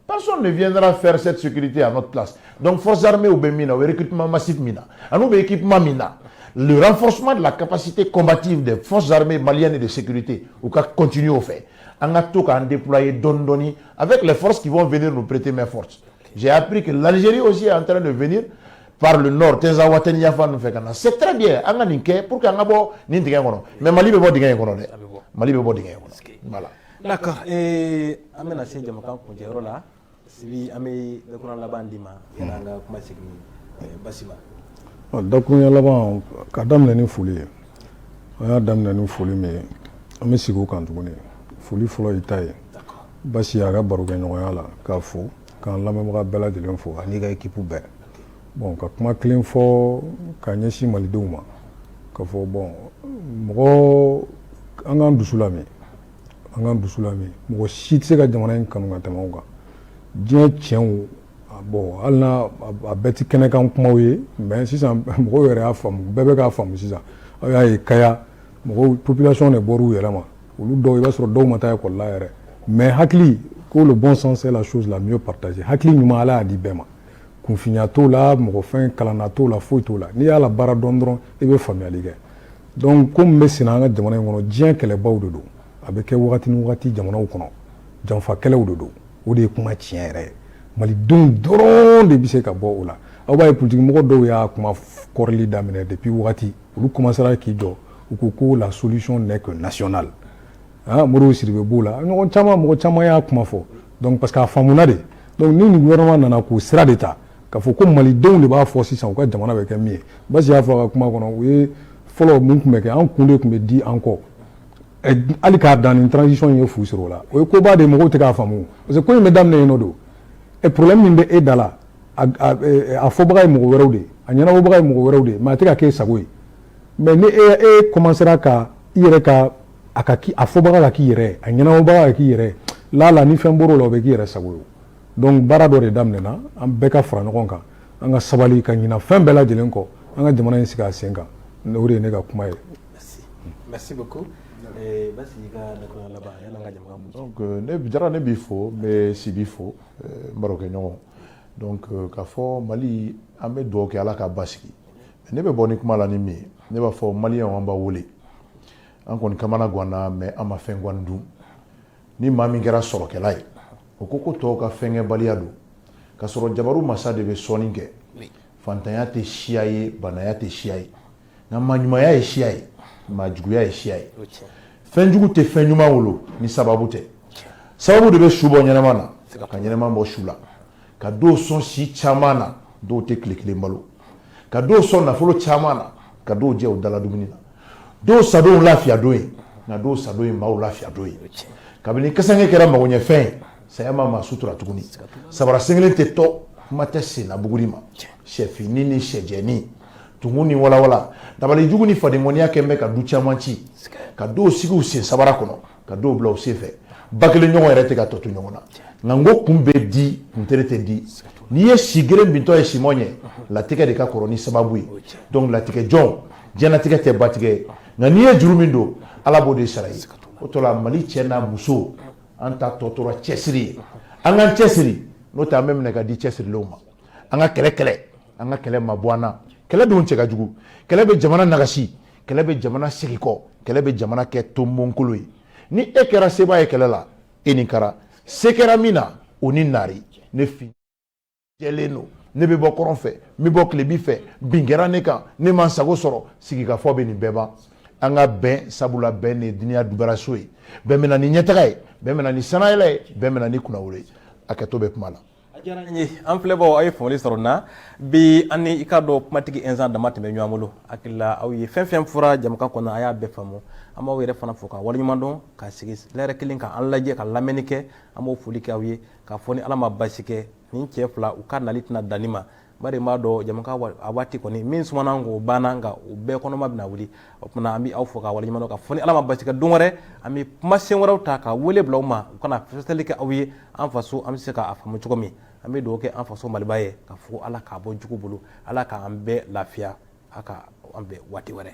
Personne ne viendra faire cette sécurité à notre place. Donc, forces armées u bɛ min na, u bɛ recrutement massif min na, an'u bɛ équipement min na, le renforcement de la capacité combative des forces armées maliennes et de sécurité, u ka continuer au fait. an ka to k'an déployer dɔɔni dɔɔni avec les forces qui vont venir nous prêter main forte j'ai appris que l'Algérie aussi est en train de venir par le nord Tinzaouatène yanfan n'u b'a fɛ ka na c'est très bien an ka nin kɛ pour que an ka bɔ nin dingɛ kɔnɔ mais Mali bɛ bɔ dingɛ in kɔnɔ dɛ Mali bɛ bɔ dingɛ in kɔnɔ voilà d'accord ee an bɛna se jɛmukan kuncɛyɔrɔ la sibi an bɛ dakuruɲɛ laban d'i ma yanni an ka kuma segin eh, basi ma ɔ, dakuruɲɛ laban ka daminɛ ni foli ye an y'a daminɛ ni foli min ye an bɛ segin o kan tuguni foli fɔlɔ y'i ta ye basi a ka barokɛɲɔgɔnya la k'a fo k'an lamɛnbaga bɛɛ lajɛlen fo an'i ka ekipu bɛɛ bon ka kuma kelen fɔ ka ɲɛsin malidenw ma ka fɔ bon mɔgɔ an k'an dusu lamin an k'an dusu lamin mɔgɔ si tɛ se ka jamana in kanu ka tɛmɛ anw kan diɲɛ tiɲɛ bon hali n'a bɛɛ tɛ kɛnɛkan kumaw ye mais sisan mɔgɔw yɛrɛ y'a faamu bɛɛ bɛ k'a faamu sisan aw y'a ye kaya mɔgɔw population de bɔr'u yɛrɛ ma olu dɔw i b'a sɔrɔ dɔw ma taa école la yɛrɛ mais hakili ko le bon sens c'est la chose la mieux partagée hakili ɲuman ala y'a di bɛɛ ma kunfinya t'o la mɔgɔ fɛn kalanna t'o la foyi t'o la n'i y'a la baara dɔn dɔrɔn i bɛ faamuyali kɛ donc ko min bɛ senna an ka jamana in kɔnɔ diɲɛ kɛlɛbaw de don a bɛ kɛ wagati ni wagati jamanaw kɔnɔ janfa kɛlɛw de don o de ye kuma tiɲɛ yɛrɛ ye malidenw dɔrɔn de bɛ se ka bɔ o la aw b'a ye politikimɔgɔ dɔw y'a kuma kɔrɔli daminɛ depuis wagati olu commencera k'i jɔ u ko ko la solution n'est que nationale ah, Modibo Sidibe b'o la ɲɔgɔn caman mɔgɔ caman y'a kuma fɔ donc parce que a faamuna de donc ni nin gouvernement nana k'o sira de ta k'a fɔ ko malidenw de b'a fɔ sisan u ka jamana bɛ kɛ min ye Basi y'a fɔ a ka kuma kɔnɔ u ye fɔlɔ mun tun bɛ kɛ an kun de tun bɛ di an kɔ hali k'a dan nin transition ye fu sɔrɔ o la o ye koba de mɔgɔw tɛ k'a faamu parce que ko in bɛ daminɛ yen nɔ don e problème min bɛ e da la a fɔbaga ye mɔgɔ wɛrɛw de ye a ɲɛnabɔbaga ye mɔgɔ wɛrɛw de ye mais a tɛ ka k'e sago ye mais ni e e commencera ka i yɛrɛ ka a ka k'i a fɔbaga ka k'i yɛrɛ a ɲɛnabɔbaga ka k'i yɛrɛ laala ni fɛn bɔr'o la o bɛ k'i yɛrɛ sago ye donc baara dɔ de daminɛna an bɛɛ ka fara ɲɔgɔn kan an ka sabali ka ɲina fɛn bɛɛ lajɛlen kɔ an ka jamana in sigi a sen kan o de ye ne ka kuma ye merci beaucoup eh, donc euh, ne Jara ne b'i fo n bɛ Sibi fo euh, n barokɛɲɔgɔn donc euh, k'a fɔ mali an bɛ dugawu kɛ ala ka basigi ne bɛ bɔ ni kuma la ni min ye ne b'a fɔ maliyɛnw an b'a wele an kɔni kamana ganna mais an ma fɛn gan dun ni maa min kɛra sɔrɔkɛla ye o ko ko tɔw ka fɛnkɛbaliya don ka sɔrɔ jabaru masa de bɛ sɔnni kɛ fantanya tɛ siya ye baanaya tɛ siya ye nka maa ɲumanya ye siya ye maa juguya ye siya ye fɛnjugu tɛ fɛn ɲuman wolo ni sababu tɛ sababu de bɛ su bɔ ɲɛnama na ka ɲɛnama bɔ su la ka dɔw sɔn si caman na dɔw tɛ tile kelen balo ka dɔw sɔn nafolo caman na ka dɔw jɛ u dala dumuni na dɔw sadon y'u lafiya don ye nka dɔw sadon ye maaw lafiya don ye kabini kasange kɛra magoɲɛfɛn ye saya ma maa sutura tuguni sabara sen kelen tɛ tɔ kuma tɛ sennabuguri ma sɛfini ni sɛjɛni tumu ni walawala dabalijugu ni fadenkɔniya kɛlen bɛ ka du caman ci ka dɔw sigi u sen sabara kɔnɔ ka dɔw bila u sen fɛ ba kelen ɲɔgɔn yɛrɛ tɛ ka tɔ to ɲɔgɔn na nka n ko kun bɛ di kuntere tɛ di n'i ye si geren bintɔ ye simɔ ɲɛ latigɛ de ka kɔrɔ ni sababu ye donc latigɛ jɔn ɲɛnatigɛ tɛ batigɛ nka n'i ye juru min don ala b'o de sara ye o to la mali cɛ n'a muso an ta tɔ tora cɛsiri ye an k'an cɛsiri n'o tɛ an bɛ minɛ ka di cɛsirilenw ma an ka kɛlɛ kɛlɛ an ka kɛlɛ mabɔ an na kɛlɛ dun cɛ ka jugu kɛlɛ bɛ jamana nagasi kɛlɛ bɛ jamana segin kɔ kɛlɛ bɛ jamana kɛ tonbonkolo ye ni e kɛra sebaa ye kɛlɛ la e ni kara se kɛra min na o ni naari ne fi jɛlen don ne bɛ bɔ kɔrɔn fɛ n bɛ bɔ tilebi fɛ bin kɛra ne kan ne ma n sago sɔrɔ sigikafɔ bɛ nin bɛɛ ban an ka bɛn sabula bɛn de ye duniya dubaraso ye bɛn bɛ na ni ɲɛtaga ye bɛn bɛ na ni sanayɛlɛ ye bɛn bɛ na ni kunnawolo ye a kɛtɔ bɛ kuma la a diyara n ye an filɛbaaw aw ye faamuyali sɔrɔ n na bi an ni i k'a dɔn kumatigi ɛnsan dama tun bɛ ɲɔgɔn bolo hakili la aw ye fɛn fɛn fɔra jɛmukan kɔnɔ a y'a bɛɛ faamu an b'aw yɛrɛ fana fo ka waleɲuman dɔn ka sigi lɛrɛ kelen ka an lajɛ ka lamɛnni kɛ an b'o foli kɛ aw ye k'a fɔ ni ala ma basi kɛ nin cɛ fila u ka nali tɛna dan nin ma bari n b'a dɔn jɛmukan a waati kɔni min sumana ko banna nka u bɛɛ kɔnɔma bɛna wuli o tuma an bɛ aw fo ka waleɲuman dɔn k'a fɔ ni ala ma basi kɛ don wɛrɛ an bɛ kuma sen wɛrɛw ta ka wele bila u ma u ka na fɛsɛfɛsɛli kɛ aw ye an faso an bɛ se k'a faamu cogo min an bɛ dugawu kɛ an faso maliba ye k'a fɔ ala k'a bɔ jugu bolo ala k'an bɛɛ lafiya a ka an bɛn waati wɛrɛ